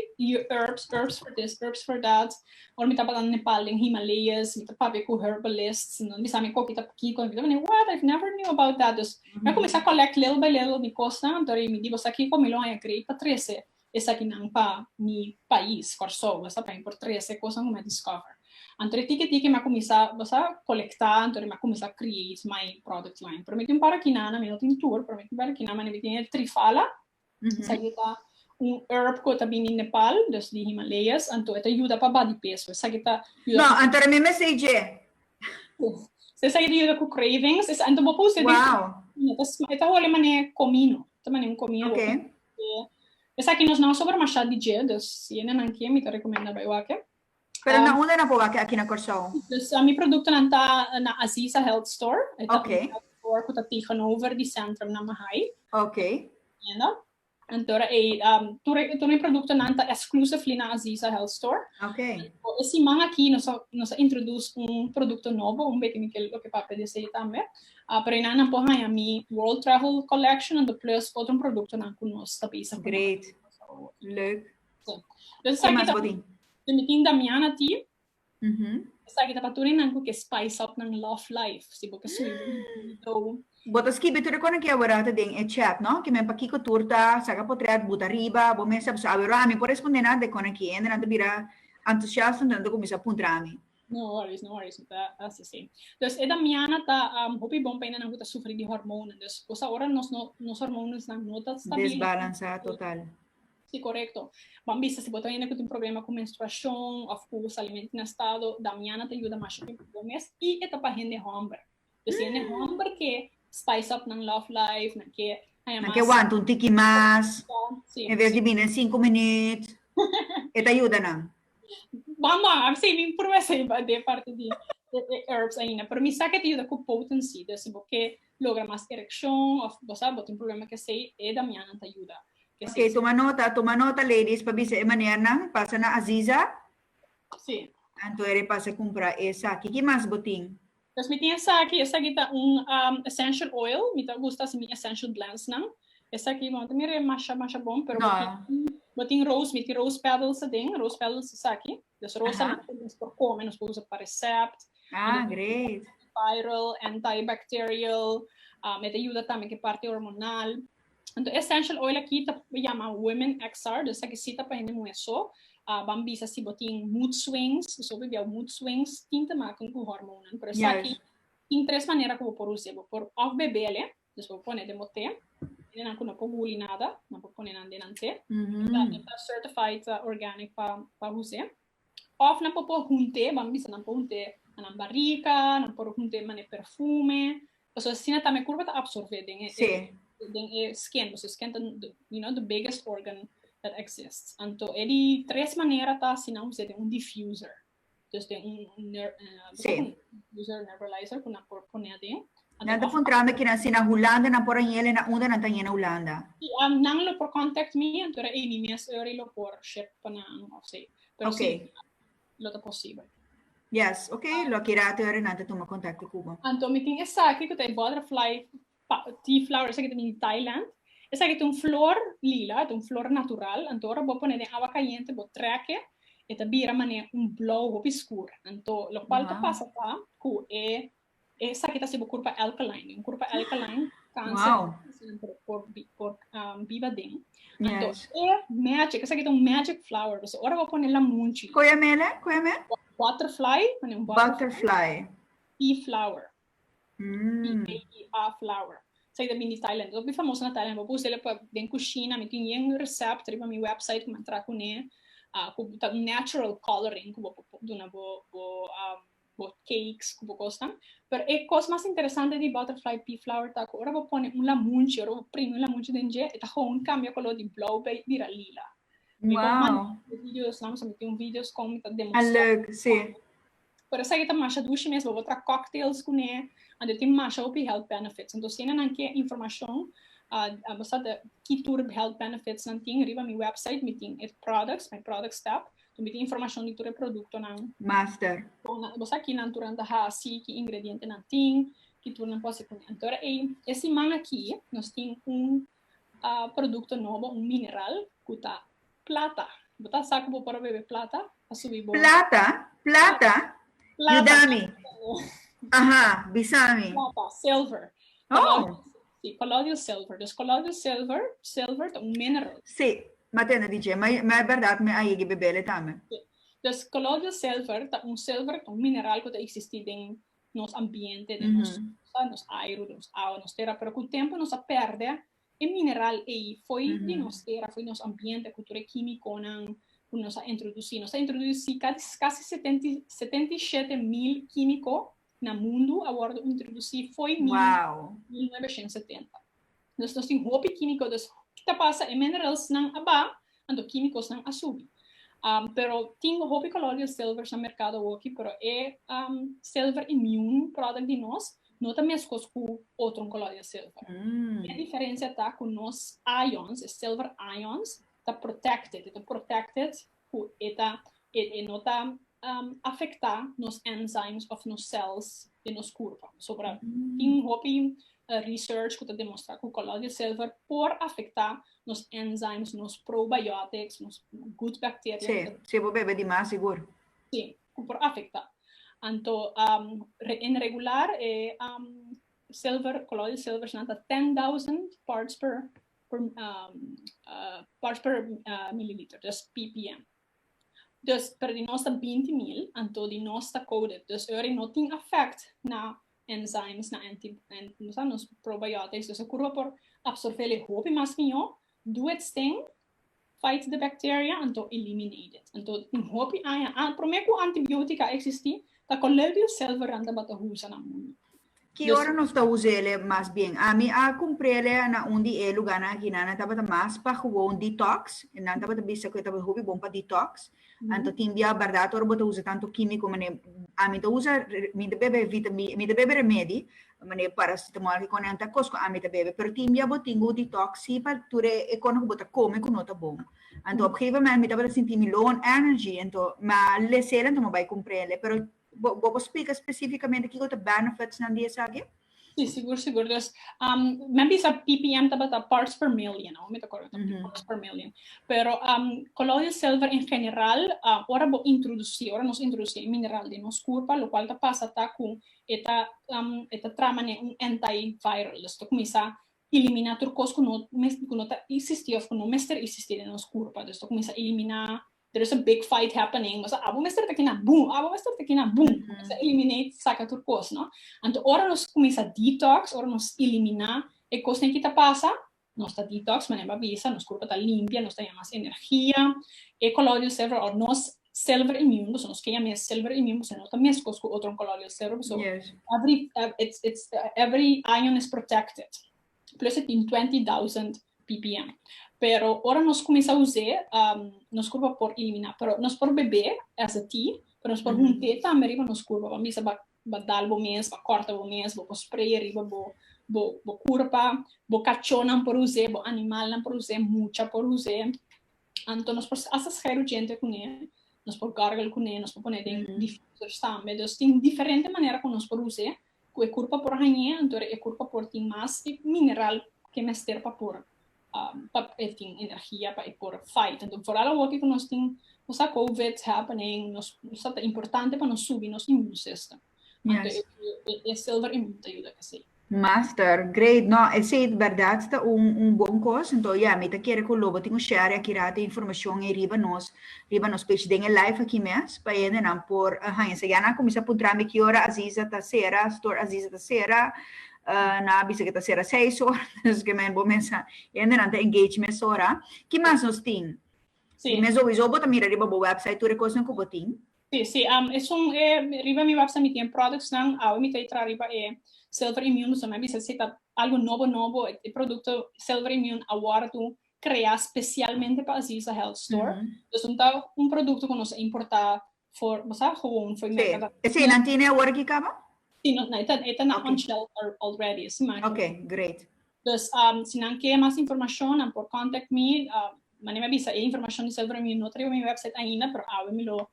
S1: herbs, herbs for this, herbs for that. Ora mi tabata na Nepal den Himalayas, mi ta papia cu herbalists, entonces mi sa mi coki ta pakico. Mi ta wak, I've never knew about that. Dus Mi a cuminsa collect little by little mi cosnan door mi di boso aki cu mi lo haña create pa trece esakinan pa mi pais Corsou boso a paña por trece cosnan cu mi a discover anto de tiki tiki mi a cuminsa boso a colecta anto de mi a cuminsa create my product line pero mi tin un par aki nan mi no tin tur pero mi tin un par aki nan mi tin e trifala Sa yu ta un herb ku e ta bini Nepal, dus di Himalayas, anto e ta yuda pa bati peso. Esaki ta yuda. No, anto mi mes ei dje. So esaki ta yuda ku cravings, esaki anto bo por use di. Wow. E ta holi manera e komino, ta manera un komino. Ok. Esaki nos nan a sobra masha di dje, dus si e nenan kie mi ta rekomenda bai wak e. Pero na unda na boba aki na Corsou? Dus mi productonan ta na Aziza Health Store. E ta un health store cu ta tegenover di Centrum na Mahae. Entiendo. Anto e tur mi productonan ta exclusively na Aziza Health Store. Anto e siman aki nos a nos a introduce un producto nobo, un beetje mi ke loke papia di esei tambe. Pero einan nan por haya mi World Travel Collection anto plus otro productonan cu nos ta bezig cu nan aki na Corsou. Great. Leuk. Ke mas bo tin? Den mi tin Damiana Tea. Esaki ta pa tur e nan ku ke spice up nan love life, si bo ke sui bo un do. Bo ta skibi tur e konan ke abarata den e chat, no? Ke men pa kiko tur ta, saka potrèt, buta riba, bo mes sa sabi. Ora ami por respondé nan de konan ki hende nan ta bira antusiasto, nan ta kuminsá puntra mi. No worries, no worries, mi ta hasi así. Dus e Damiana ta hopi bon pa e nannan ku ta sufri di hormonan. Dus, bosa ora nos hormonasnan no ta stabil. Desbalansá total. Si korekto. Ban bisa si bo ta hende ku tin problema ku menstruashon òf ku salimentu na estado damiana ta yuda masha tempu ku bo mes i e ta pa hende hòmber. Pues si hende hòmber ke spice up nan love life, nan ke haña mas. Nan ke wanta un tiki mas. Nan ke wanta, si. En ves di bini en sinku minüt. E ta yuda nan. Mama, a bisa mi prueba seiba de parte di e herbs ainda. Pero mi sa ke ta yuda ku potency. Dus si bo ke logra mas erekshon of bo sa bo tin problema ku esei, e damiannan ta yuda. Ok, tuma nota, tuma nota ladies pa bisa e manernan. Pasa na Aziza. Si. Anto Eri pasa kumpra esaki. Ki mas bo tin? Pues mi tin esaki, esaki ta un essential oil, mi ta gusta hasi mi essential blends nan, esaki bo no ta mira e masha masha bon pero bo tin, bo tin rose, mi tin rose petals aden, rose petals esaki, dus rosa nan ta nos por come, nos por usa pa recept, antiviral, antibacterial, um e ta yuda tambe ku e parti hormonal. Enton essential oil aki ta yama women xr, dus esaki si ta pa hende muhe so, a ban bisa si bo tin mood swings, bo so bo biau mood swings, tin te make ku hormonnan, pero esaki tin tres manera ku bo por use, bo por òf bebele, dus bo pone den bo te, hende nan ku no por guli nada nan por pone nan den nan te, ta certified organic pa use, Of nan por por hunté, bo a bisa nan por hunté na nan barika, nan por hunté manera perfume, pasobra asina tambe e kurpa ta absorbé den e Sí. den e skin, pasobra e skin ta you know the biggest organ that exists. Anto e di tres manera ta si nan us'é den un diffuser, dus den un ner- Sí. diffuser, nebulizer ku nan por pone aden, Nan ta puntrami kinan si na Hulanda nan por aña el en a unda nan ta aña na Hulanda. Nan lo por contact mi anto era emi mes ora y lo por ship pa nan of si. Pero si lo ta posibel. Yes, ok, lo a keda te ora nan ta tuma contacto cu bo. Anto mi tin esaki cu ta e butterfly tea flower esaki ta bini Thailand. Esaki ta un flor lila, e ta un flor natural, anto ora bo pone den awa cayente bo treke e ta bira mane un blauw hopi skur. Anto locual ta pasa ta cu e Esaki ta si bo kurpa alkaline. Un kurpa alkaline kanser sèmpere por por biba den. Anto e magic, esaki ta un magic flower. Pasobra ora bo pone lamunchi. Koe a mele? Koe a me? Butterfly, pone un butterfly. Pea flower, P-e-e-a flower. Esaki ta bini di Thailand. Esaki ta famoso na Thailand. Bo por us'e pa den kushina. Mi tin yen recept riba mi website ku mi a traha kuné. Ku ta un natural coloring ku bo por duna bo bo. bo cakes cu bo cosnan. Pero e cos mas interesante di butterfly pea flower ta cu ora bo pone un lamunchi, ora bo primi un lamunchi den dje e ta gewoon cambia color di blauw bay bira lila. Mi bon manda Wow. e video esnan pasobra mi tin un video scon mi ta A demostra leuk, si. Pero esaki ta masha dushi mes, bo por traha cocktails cu ne, anto e tin masha hopi health benefits. Anto si e nan ke informacion, ah, basada ki tur health benefits nan tin, riba mi website mi tin e products, my products tab, Cu mi tin informacion di tur e productonan. Master. Con nan, bo sa ki nan turan ta haci, ki ingrediente nan tin, ki tur nan por haci cun nan. Entor e, e siman aki nos tin un producto nobo, un mineral cu ta plata. Bo ta sa cu bo por a bebe plata pa subi bo. Plata? Plata? Plata. Yuda mi. Aha, bisa mi. Plata, silver. Oh! Si, colloidal silver. Dus colloidal silver, silver ta un mineral. Si, mi a tende dice, ma e berdad mi a yegi bebele tambe. Si. Dus colloidal silver ta un silver, un mineral cu ta existi den nos ambiente, den nos cosa, nos airu, den nos awa, nos tera, pero cu tempo nos a perde e mineral ey fo'i di nos tera, fo'i di nos ambiente cu tur e kimiconan cu nos a introduci. Nos a introduci casi setenta y siete mil kimico. na mundu a wòrdu introdusí fo'i mil nuebeshents setenta. Dus nos tin hopi kímiko, dus hopi ta pasa e mineralsnan a ba, anto kímikosnan a subi. Pero tin hopi kolor di e silvers na merkado awoki, pero e silver immune product di nos no ta meskos ku otro kolor di e silver. E diferensia ta ku nos ions, e silver ions, ta protected, e ta protected ku e ta e no ta afektá nos enzymes òf nos cells den nos kurpa. So por a tin hopi research ku ta demostrá ku Colloidal Silver por afektá nos enzymes, nos probiotics, nos good bacteria. Sí, si bo bebe di mas sigur. Sí, ku por afektá. Anto en regular e silver, Colloidal Silvers nan ta ten thousand parts per parts per milliliter, dus ppm. Dus per di nos ta binti mil, anto di nos ta coated. Dus ora e no tin effect na enzymes, na anti, na nos probiotics. Dus e curpa por absorbel e hopi mas mihó. Doe het steen. Fight the bacteria anto eliminate it. Anto un hopi aña an prome ku antibiotic a existi ta Colleldio Selveran tabata usa na mundo. Ki ora nos ta usa ele mas bien? Ami a cumpre ele na un di e luganan aki nan, nan tabata mas pa gewoon detox, nan tabata bisa cu e tabata hopi bon pa detox, Anto tin dia bardad ora bo ta usa tanto kimico manera ami ta usa mi ta bebe vitamina mi ta bebe remedi manera paracetamol ki kòne anta kos ku ami ta bebe pero tin dia bo tin ku detox si pa tur e kòne ku bo ta kome ku no ta bon anto op geven moment mi tabata sinti mi low on energy anto mi a lese el anto mi a bai kumprel e pero Bo bo por splica specificamente kico ta benefits nan di esaki? Sí, sigur, sigur. Dus, um, men bisa PPM tabata parts per million, no? Me ta correcto, mm -hmm. parts per million. Pero um, colloidal silver en general, uh, ora bo introduci, ora nos introduci e mineral di nos curpa, lo cual ta pasa ta cu eta, um, eta trama ne un antiviral. Dus ta comienza elimina tur cos cu no, cu no ta existi of cu no mester existi de nos curpa. Dus ta comienza elimina there is a big fight happening nos a abo mester ta kina boom abo mester ta kina boom mm -hmm. eliminate saka tur kos no anto ora nos kumisa detox ora nos elimina e kos nen kita pasa nos ta detox manen ba bisa nos kurpo ta limpia nos ta yamas energia e koloidal server or nos selver imun boso nos keya mes selver imun boso no ta mes kos ku otro koloidal server boso yes. every it's it's every ion is protected plus e tin twenty thousand ppm pero ora nos cuminsa us'e nos curpa por elimina pero nos por bebe esa ti pero nos por hunte tambe riba nos curpa bo mester ba dal bo mes ba corta bo mes bo por spray riba bo bo curpa bo cachonan por us'e bo animalnan por us'e mucha por us'e anto nos por hasta schay rugente cune nos por gargle cune nos por pone den diffusers tambe dus tin diferente manera cu nos por us'e ku e kurpa por hañ'é, anto e kurpa por tin mas di mineral ku e mester pa por pa e tin energia pa e por fight. Anto foral awoki ku nos tin nos a covid happening nos sa ta importante pa nos subi nos immune system. Anto e silver immune ta yuda esei. Master, great. No, esei ta bèrdat ta un bon kos. Anto ya, mi ta kere ku lo bo tin un share aki rato informashon ei riba nos riba nos page den e live aki mes pa hendenan por haña sa. Ya nan a kuminsá puntrami ki ora Aziza ta sera, store Aziza ta sera, nan a bisa ku e ta sera seis ora, dus ke men bo mesa hendenan ta engage mes ora. Ki mas nos tin? Si. Di mes sowisou bo ta mira riba bo website tur e kosnan ku bo tin. Si, si, esun e riba mi website mi tin e productsnan, awe mi ta entra riba e Silverimmune, so mi a bisa si ta algu nobo nobo, e produkto Silverimmune awor tu crea specialmente pa Aziza Health Store. Entonces no ta un producto cu nos a importa for, bo sa, gewoon for merca Gavita. Sí, esei nan tine awor aki caba? Sí, nos, e ta, e ta na on shelf already, esei maki. Ok, great. Dus, si nan ke mas informacion, nan por contact mi. Manera mi a bisa, e informacion di Silver and Wheel no a trayo mi website ainda, pero awe mi lo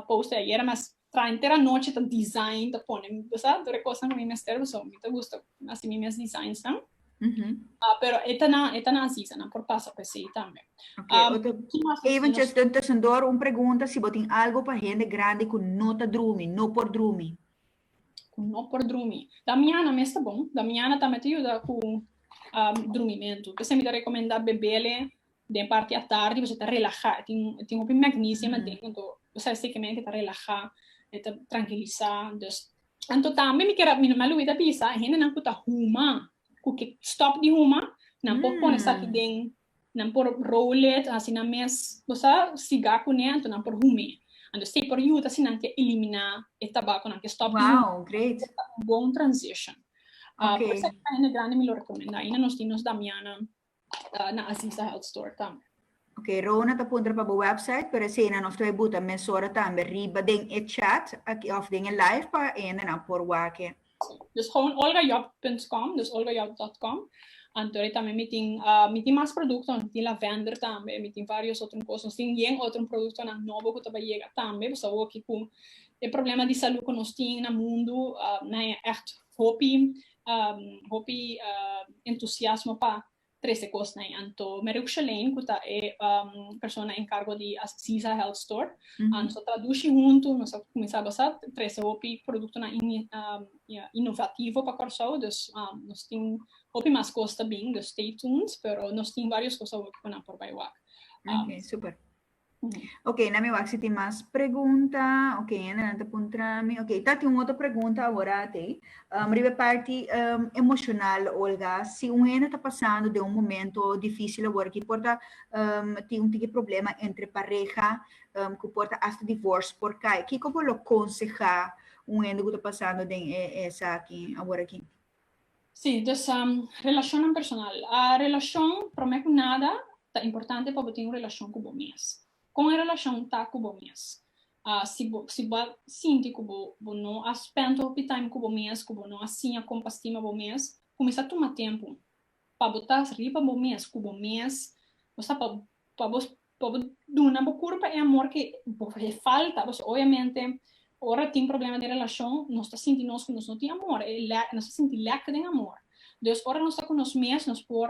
S1: post e ayera, mas Trainte ra nochi ta design ta pone bo sa tur e cosnan cu mi mester pasobra mi ta gusta haci mi mes designs nan pero e ta na e ta na así sa nan por pasa pe así tambe. Eventjes den tusendor un pregunta si bo tin algo pa hende grandi cu no ta drumi no por drumi. Cu no por drumi da miana mes ta bon da miana tambe ta yuda cu drumimento p'esei mi ta recomenda bebele den parti atardi boso ta relaha e tin e tin hopi magnesium aden anto boso a seke mente ta relaha e ta trankilisa dus anto tambe mi kere mi nomás lo witha bisa e hendenan ku ta huma ku ke stòp di huma nan por pone esaki den nan por roll it hasi nan mes boso a siga kuné anto nan por hum'é anto si por yuda si nan ke eliminá e tabakonan ke stòp di huma Wow, great. ta un bon transition a por esaki pa hende grandi mi lo rekomendá aina nos tin nos damianan na Aziza Health Store tambe. Ok, Rona ta puntra pa bo website, pero esena nos lo a buta mesora tambe riba den e chat aki of den e live pa hendenan por wak-e. Si, dus gewoon olgajob punt com, dus olgajob dot com, anto de tambe mi tin mi tin mas produktonan, mi tin lavender tambe, mi tin varios otro kos, nos tin yen otro produktonan nobo ku ta bai yega tambe, pasobra awoki ku e problema di salu ku nos tin na mundu na e ègt hopi hopi entusiasmo pa trece cosnan ei anto Meruk Shelane cu ta e persona encargo di Aziza Health Store nos a traduci hunto nos a cuminsa basa trece hopi productonan innovativo pa Kòrsou dus nos tin hopi mas cos ta bin dus stay tuned pero nos tin varios cos awo cu nan por bay wak. Ok super. Ok, na mi wak si tin mas pregunta. Ok, ene nan ta puntra mi. Ok, ta tin un otro pregunta awora te. Um, riba parti um, emocional, Olga. Si un ene ta pasando de un momento difícil awora, ki porta um, tin un tiki problema entre pareja, um, ku porta hasta divorce por kai. Kiko bo lo conseha un ene ku ta pasando den e, esa aki, awora aki? Sí, dus relashonnan personal. Relashon, promé ku nada ta importante pa bo tin un relashon ku bo mes. Kon e relashon ta ku bo mes? Si bo si bo a sinti ku bo bo no a spènt hopi taim ku bo mes, ku bo no a siña kon pa stima bo mes, kuminsá tuma tempu pa bo ta riba bo mes, ku bo mes, bo sa pa bo pa bo duna bo kur pa e amor ke bo e falta pasobra oiamente ora tin problema den relashon nos ta sinti nos ke nos no tin amor nos ta sinti lèk den amor dus ora nos ta ku nos mes nos por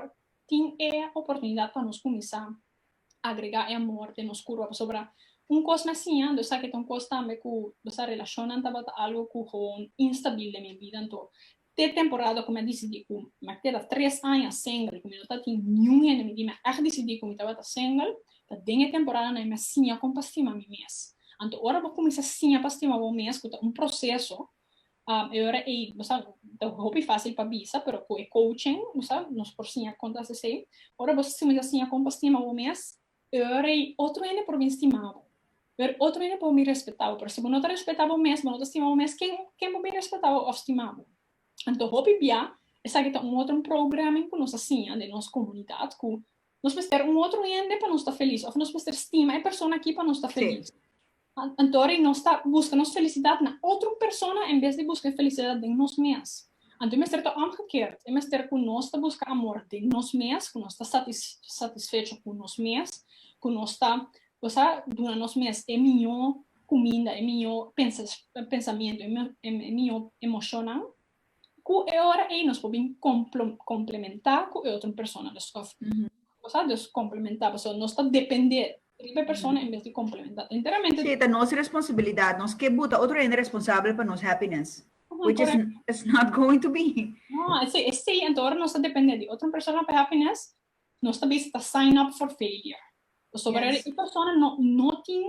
S1: tin e oportunidat pa nos kuminsá agregá e amor den nos kurpa pasobra un kos na siña nos sa ke ta un kos tambe ku nos sa relashonnan tabata algu ku gewoon instabil den mi vida anto te temporada ku mi a disidí ku mi a keda tres aña single, ku mi no ta tin niun hende mi di mi a disidí ku mi tabata single, ta den e temporanan ei mi a siña kon pa stima mi mes. Anto ora bo kuminsá siña pa stima bo mes, ku ta un proseso, e ora ei bo sa ta hopi fásil pa bisa, pero ku e kouching bo sa nos por siña kon ta hasi esei. Ora bo kuminsá siña kon pa stima bo mes, Ora ei otro hende por bin stima bo. Ora otro hende por bin respeta bo. Pero si bo no ta respeta bo mes, bo no ta stima bo mes, ken ken por bin respeta bo of stima bo? Anto hopi bia esaki ta un otro programming ku nos a siña den nos komunidat ku nos mester un otro hende pa nos ta felis of nos mester stima e persona aki pa nos ta felis. Anto ri nos ta buska nos felisidat na otro persona en bes di buska e felisidat den nos mes. Anto e mester ta òmgekeerd, e mester ku nos ta buska amor den nos mes, ku nos ta satisfecho ku nos mes, ku nos ta kusá duna nos mes e mihó kuminda, e mihó pensamiento, e mihó emoshonnan. Ku e ora ei nos por bin komplementá ku e otro persona. Nos ta usa des komplementá pasobra nos ta dependé riba e persona en bes di komplementá enteramente. Si ta nos responsibilidat, nos ke buta otro hende responsabel pa nos happiness, which is is not going to be. No, esei, esei anto ora nos ta dependé di otro persona pa happiness, Nos ta bisa ta sign up for failure. Pasobra Yes. e persona no no tin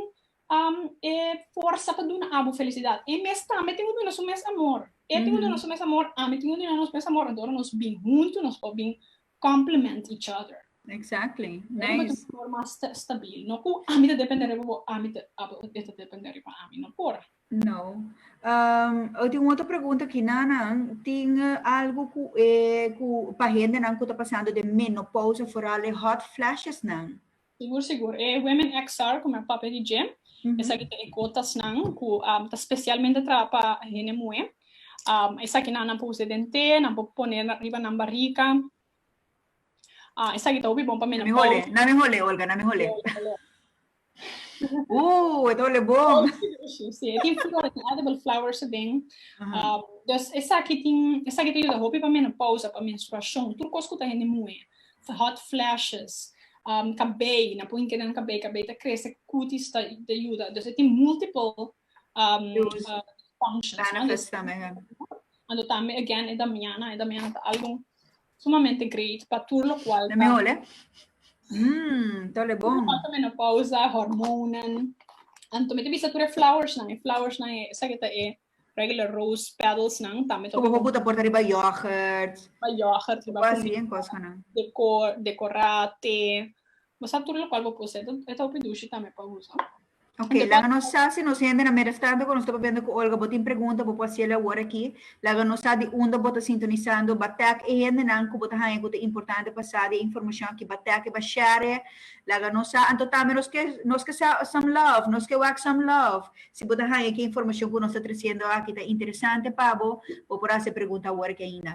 S1: am e forsa pa duna abo felicidad. E mes tambe tin cu duna su mes amor. E tin cu duna su mes amor, ami tin cu duna nos mes amor, entonces nos bin hunto, nos por bin complement each other. Exactly. Ora bo ta Nice. un amor mas sta- stabil. No cu ami ta depende riba bo, ami ta abo e ta depende riba ami. No por. No. Um, o tin otro pregunta ki nanan, tin algo ku, eh, ku pa hendenan ku ta pasando den menopausa, vooral e hot flashes nan? Sigur, sigur. E Women XR ku mi a papia di dje, esaki ta e gotasnan ku ta spesialmente traha pa hende muhé. Um, esaki nanan por use den té, nan por pone riba nan barika. Ah, esaki ta hopi bon pa mi. Na mi hole, na mi hole, Olga, na mi hole. Ooh, het hole bon. Sí, e tin flores, tin edible flowers aden. Um, dus esaki tin, esaki ta yuda hopi pa menopausa, pa menstruacion, tur cos cu ta hende moe. Hot flashes, um, cabei, na pon inke den cabei, cabei ta crece, cutis ta, ta yuda. Dus e tin multiple um, uh, functions. Benefits no? tamen, ja. Ando tambe again e damiana, e damiana ta algo sumamente great pa tur lokual ta. Mehole? Mmm, ta ole bon. Lokual ta menopausa, hormonen. Anto mi ta bisa tur e flowersnan, e flowersnan e esaki ta e regular rose petalsnan tambe ta. Como bo puta porta riba yoghurt. Riba yoghurt, riba. Bo asi en kos kanan. Decor, decorate. Bo sa tur lokual bo puse e ta hopi dushi tambe pa usa. Ok, laga nos sa si nos hende na middag tanto ku nos ta papiando ku Olga. Bo tin pregunta bo por hasiel awor aki. Laga nos sa di unda bo ta sintonisando. Ba tag e hendenan ku bo ta haña ku ta importante pa sa di e informashon aki. Ba tag e ba share e. Laga nos sa anto tambe nos ke nos ke sa some love, nos ke wak some love si bo ta haña ku e informashon ku nos ta tresiendo aki ta interesante pa bo. Bo por hasi e pregunta awor aki ainda.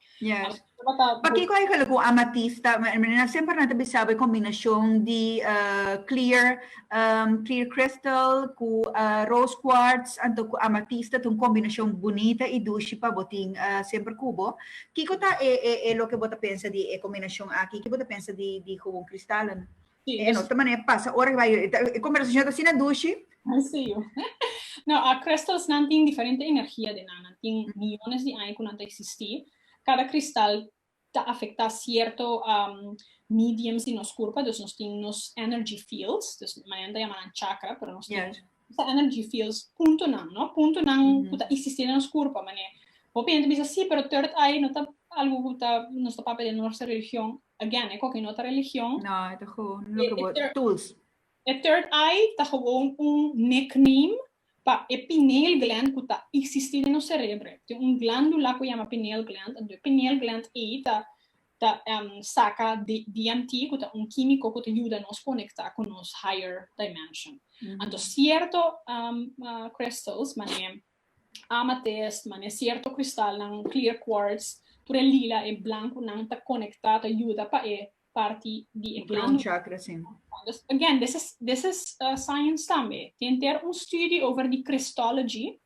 S1: Yes. Pakiko e hala ku amatista, nan semper nan ta bisaba e kombinashon di clear clear crystal ku rose quartz anto ku amatista ta un kombinashon bunita i dushi pa bo tin semper ku bo. Kiko ta e e e loke bo ta pensa di e kombinashon aki? Ke bo ta pensa di di houn kristalonan? Sí, e no ta manera pasa ora bai e conversacion ta asina dushi. Sí, yo. No, a crystals nan tin diferente energia den nan, nan tin millones di aña cu nan ta existi, cada cristal ta afecta cierto um mediums di nos curpa, dus nos tin nos energy fields, dus manan ta yama nan chakra, pero nos tin Bo ta energy feels puntonan, no? Puntonan mm -hmm. ku ta existi den nos kurpa, manera Hopi hende bisa si, pero third eye no ta algo ku ta nos ta papia den norsha religion. Again, e koki no ta religion. No, e ta gewoon lo ke bo tools. E third eye ta gewoon un nickname pa e pineal gland ku ta existi den nos serebro. Tin un glandula ku yama pineal gland, ento e pineal gland ei ta ta saka di DMT ku ta un kimiko ku ta yuda nos konektá ku nos higher dimension. Anto sierto crystals, manera amethyst, manera sierto kristalnan, clear quartz, tur e lila, e blankunan ta konektá, ta yuda pa e parti di e glandu. Crown chakra si. Again, this is science tambe. Tin henter un study over di crystology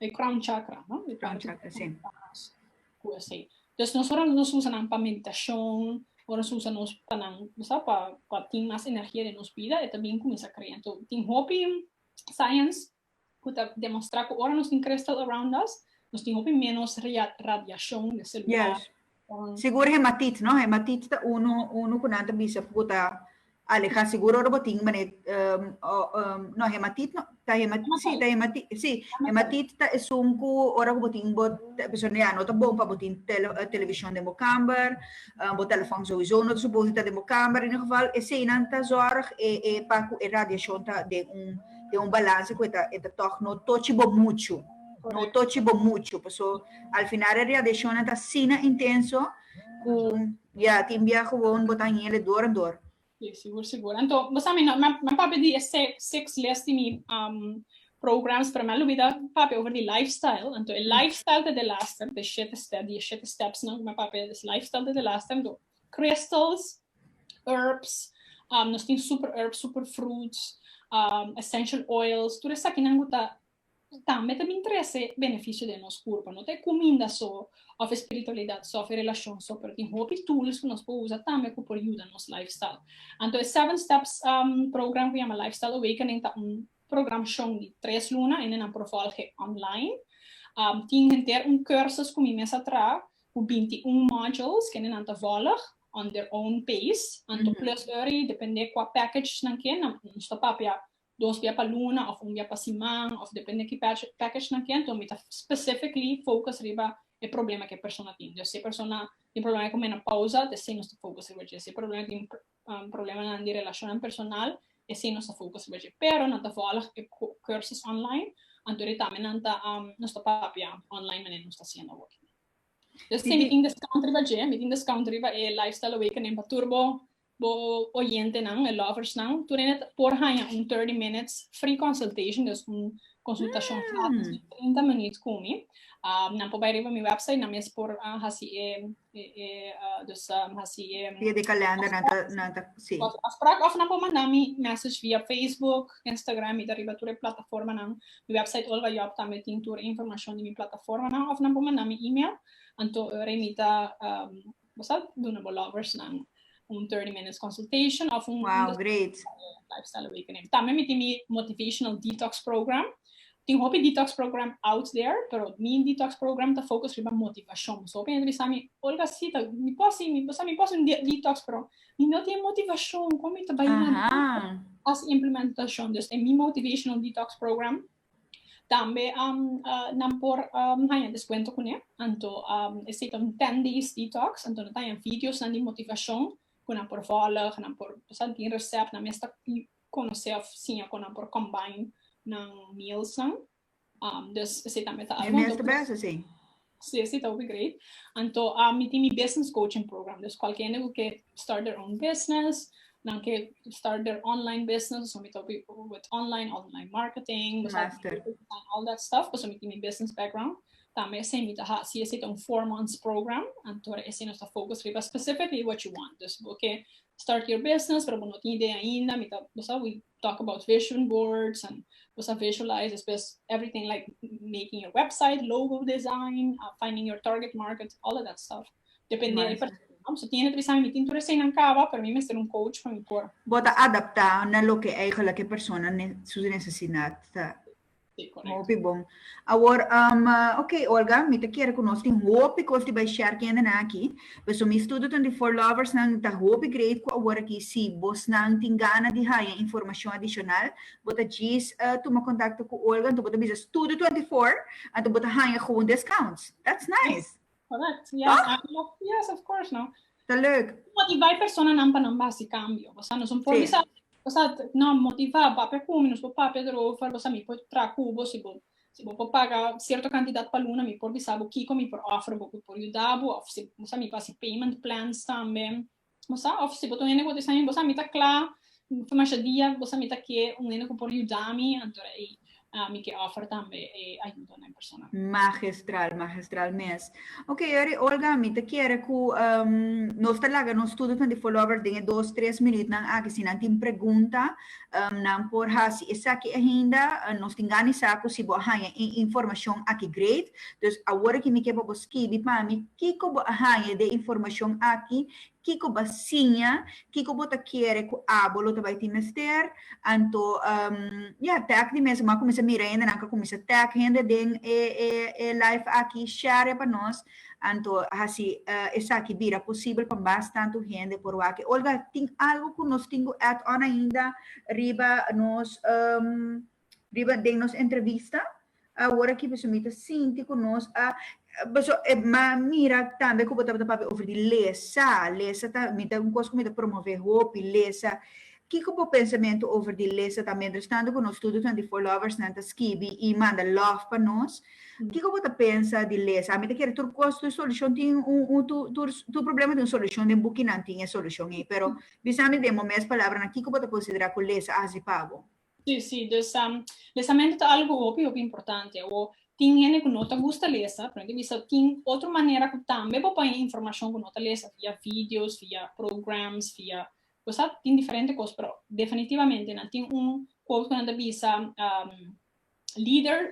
S1: E crown chakra no? E crown chakra si. Ku esei. Entonces nos ora nos usa nan pa meditacion, ora nos usa nos pa nan, bo sa, pa pa tin mas energia den nos bida e ta bin kuminsá krea. Enton tin hopi science ku ta demostrá ku ora nos tin crystal around us nos tin hopi ménos radiacion di e selular. Sigur hematit no hematit ta unu unu ku nan ta bisa ku ta aleha sigur ora bo tin mané no hematit no ta hematit si ta hematit si hematit ta esun ku ora ku bo tin bo persona ya no ta bon pa bo tin televishon den bo kamber bo telefòn souiso no ta supos di ta den bo kamber en un geval esei nan ta zòrg e e pa ku e radiashon ta den un den un balanse ku e ta e ta tòg no tochi bo muchu. no tochi bo muchu paso al final e radiacionnan ta asina intenso cu ya tin bia gewoon bo ta hingele dor en dor. Si sigur sigur anto bo sa mi nan papia di e six les di mi programs pero mi a lubida papia over di life style anto e life style ta delaster di e shete step di e shete steps nan cu mi a papia e life style ta delaster anto crystals herbs nos tin super herbs super fruits essential oils tur esakinan cu ta Cu tambe ta bin trece beneficio den nos curpa. No ta e cuminda so of e spiritualidad so of e relacion so, pero tin hopi tools cu nos por usa tambe cu por yuda nos lifestyle. Anto e Seven Steps program cu yama Lifestyle Awakening ta un programashon di tres luna en e nan por volge online. Tin henter un cursus cu mi mes a traha cu binti un modules kende nan ta volg on their own pace. Anto plus ora y depende cua package nan ke nos ta papia dos bia pa luna of un bia pa siman of depende ki package nan ken to mi ta specifically focus riba e problema ke persona tin dus si e persona tin problema ku menopausa esei nos ta focus riba dje si e persona tin problemanan di relashonnan personal esei nos ta focus riba dje pero nan ta volg e cursus online anto di tambe nan ta nos ta papia online manera nos ta hasiendo awo akí dus tin mi tin discount riba dje mi tin discount riba e lifestyle awakening pa tur bo Bo oyentenan, e loversnan, tur ene ta por haña un thirty minutes free consultation, dus un konsultashon gratis di trinta minuut ku mi. Nan por bai riba mi wèpsait, nan mes por hasi e, e, dus hasi e. Via di kalènder nan ta, nan ta, si. Afsprak òf nan por manda mi mèsech via Facebook, Instagram, mi ta riba tur e plataformanan. Mi wèpsait Olga Job tambe tin tur e informashon di mi plataformanan òf nan por manda mi email, anto ora ei mi ta bo sa duna bo lovers nan un 30 minutes consultation of un wow great lifestyle awakening tambe mi tin mi motivational detox program tin hopi detox program out there pero mi detox program ta focus riba motivacion so hopi bisa mi olga si ta mi posi mi bosa mi posi detox pero mi no tin motivacion como mi ta bai nan as implementacion dus e mi motivational detox program Tambe nan por haña deskuento kuné. Anto esei ta un ten days detox, anto nan ta haña videonan di motivashon ku nan por vòlg, nan por sa tin resèp, nan mester konosé òf siña kon nan por combine nan mealsnan. Esei tambe ta algu. Stacy ta hopi great. Anto a mi tin mi business coaching program. Dus cualkier hende cu ke start their own business, nan ke start their online business, pasobra mi ta hopi with online, online marketing, Master. all that stuff, pasobra mi tin mi business background. Tambe esei mi ta hasi, esei ta un four months program, anto ora esei nos ta focus riba specifically what you want. Dus bo ke start your business pero bo no tin idea ainda, mi ta, bo sabi, talk about vision boards and boso a visualize despues everything like making your website, logo design, uh, finding your target market, all of that stuff. Depende Nice. per persona. So tiene tres años, mi tin tur recién aan caba, pero mi mester un coach para mi por. Bota adaptá na loke eigenlijk e persona ne, su necesidad ta. Hopi bon. Awor um ok Olga mi ta kere ku nos tin hopi kos di bai share kende nan aki. Paso mi studonan di For Lovers nan ta hopi great ku awor aki si bosnan tin gana di haña informashon adishonal bo ta djis tuma kontakto ku Olga anto bo ta bisa studo twenty four anto bo ta haña gewoon discounts. That's nice! Correct. Yeah. Toch? Ah, lo- yes, of course, no. Ta leuk. Motiva e personanan pa nan ba hasi cambio. Bosa nos un por Sí. bisa, bosa, no, motiva, papia cu mi, nos por papia erover, bosa mi por traha cu bo, si bo, si bo por paga cierto cantidad pa luna, mi por bisa bo kico mi por offer bo cu por yuda bo, of si, bosa mi por hasi payment plans tambe. bo sa, òf si bo ta un hende ku ta bisa mi, bo sa, mi ta kla for masha dia, bo sa mi ta ke un hende ku por yuda mi, anto ei mi ke òfer tambe e ayudo na e persona. Magistral, magistral mes. Ok, Yori, Olga, mi ta kere ku nos ta laga nos studio Twenty Four Lovers den e dos, tres minütnan aki si nan tin pregunta. Nan por hasi esaki ainda. Nos tin gana di sa cu si bo a haña e informacion aki great. Dus awor aki mi ke pa bo skibi pa mi kico bo a haña di e informacion aki, kico bo a siña, kico bo ta kere cu abo lo ta bay tin mester. Anto, ya, tag di mes. Bo a cuminsa mira hende, nan ka cuminsa tag hende den e live aki. Share pa nos. Anto hasi esaki bira posibel pa mas tantu hende por wak. Olga, tin algu ku nos tin ku add on ainda riba nos riba den nos entrevista? Awor aki pasobra mi ta sinti ku nos a paso e ma mira tambe ku bo tabata papia over di lesa. Lesa ta mi ta un kos ku mi ta promove hopi lesa Kiko bo pensamentu over di lesa ta mientrestando ku nos studunan di For Lovers nan ta skibi i manda love pa nos? Kiko bo ta pensa di lesa Ami ta kere tur kos tur solushon tin un tur tur problema tin un solushon den bukinan tin e solushon ei pero bisa mi den bo mes palabranan kiko bo ta konsiderá ku lesa a hasi pa bo? Sí, sí, dus lesamentu ta algu hopi hopi importante. Awor, tin hende ku no ta gusta lesa, pero mi ta bisa tin otro manera ku tambe bo paña informashon ku no ta lesa, via videos, via programs, via Bo sa, tin diferente kos, pero definitivamente nan tin un quote ku nan ta bisa, Leaders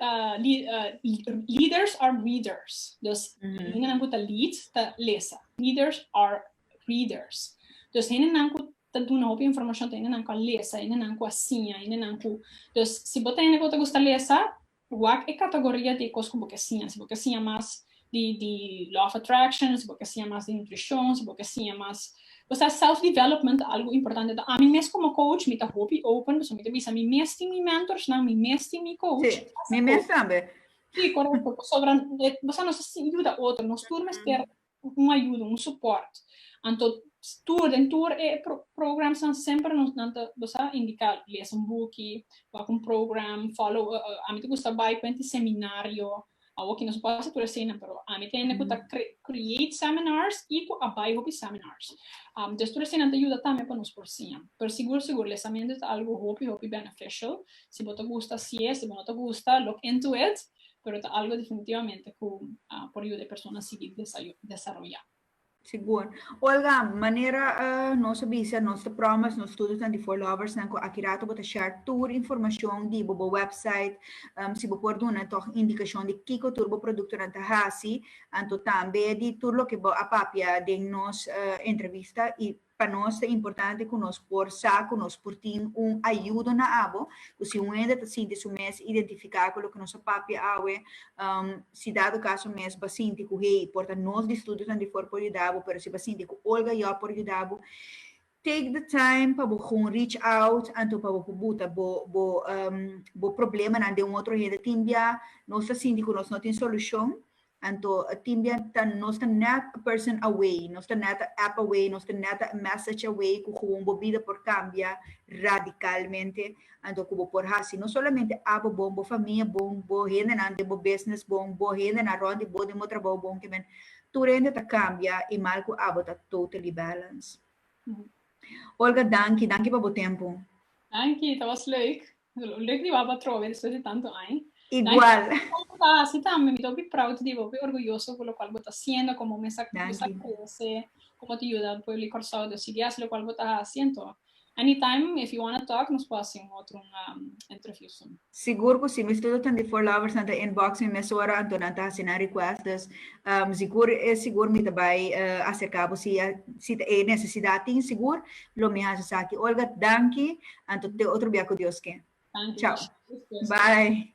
S1: are readers. Dus, hendenan ku ta lead ta lesa. Leaders are readers. Dus, hendenan ku ta duna hopi informashon ta hendenan ku a lesa, hendenan ku a siña, hendenan ku. Dus, si bo ta hende ku bo ta gusta lesa, Wak e katagoria di e kos ku bo ke siña, si bo ke siña mas di di law of attraction, si bo ke siña mas di nutrishon, si bo ke siña mas, o sea self development algu importante ta ami mes komo coach mi ta hopi open pasobra mi ta bisa mi mes tin mi mentorsnan, mi mes tin mi coach, Si, mi mes tambe. Si, korekto, pasobra bo sa nos a sin yuda otro, nos tur mester cu un ayuda, un support. Anto tur, den tur e programs nan semper nos nan ta, bo sa, indica, lees un buki, wak un program, follow, ami ta gusta bay cu enti seminario, awo aki nos no por hasi tur eseinan, pero ami ta hende cu ta create seminars y cu a bay hopi seminars. Entonces tur eseinan ta yuda tambe pa nos por siña. Pero sigur, sigur, leesamentu ta algo hopi, hopi beneficial. Si bo ta gusta hasi'e, si bo no ta gusta, look into it. pero ta algo definitivamente cu por yuda e persona sigui desaroya. Sigur. Olga, manera nos a bisa, nos ta proud mas nos studionan di For Loversnan cu aki rato bo ta share tur informacion di bo, bo website, si bo por duna tog indicacion di kico tur bo productonan ta haci, anto tambe di tur loke bo a papia den nos entrevista y Pa nos ta importante ku nos por sa ku nos por tin un ayudo na abo, ku si un hende ta sinti su mes identifiká ku loke nos a papia awe, si dado kaso mes bo sinti ku hey, por ta nos di studionan di for por yuda bo, pero si bo sinti ku Olga Job por yuda bo, take the time pa bo gun reach out anto pa bo por buta bo bo bo problemanan den un otro hende. Tin bia nos ta sinti ku nos no tin solushon, Anto a tin bia ta nos ta net a person away, nos ta net a app away, nos ta net a message away ku gewoon bo bida por kambia radicalmente. Anto ku bo por hasi no solamente abo bon, bo famia bon, bo hendenan den bo business bon, bo hendenan rond di bo den bo trabou bon ke men. Tur hende ta kambia i mal ku abo ta totally balance. Olga danki, danki pa bo tempu. Danki, ta was leuk. Lo lek di baba trobe despues di tanto aña. Igual. Bo ta hasi tambe, mi ta hopi proud di bo, hopi orguyoso ku lokual bo ta hasiendo, komo mester bo mester krese, komo ta yuda pueblo di Kòrsou di sigi hasi lokual bo ta hasi. Anto, anytime if you wanna talk nos por hasi un otro interview soon. Sigur ku si, mi studio tan di Voorlovers, nan ta inbox mi mesora, anto nan ta hasi nan request. Dus, sigur e sigur mi ta bai aserká bo si ta e nesesidat tin sigur. Lo mi haci esaki. Olga, danki. Anto te otro bia cu Dios ke. Chao. Bye.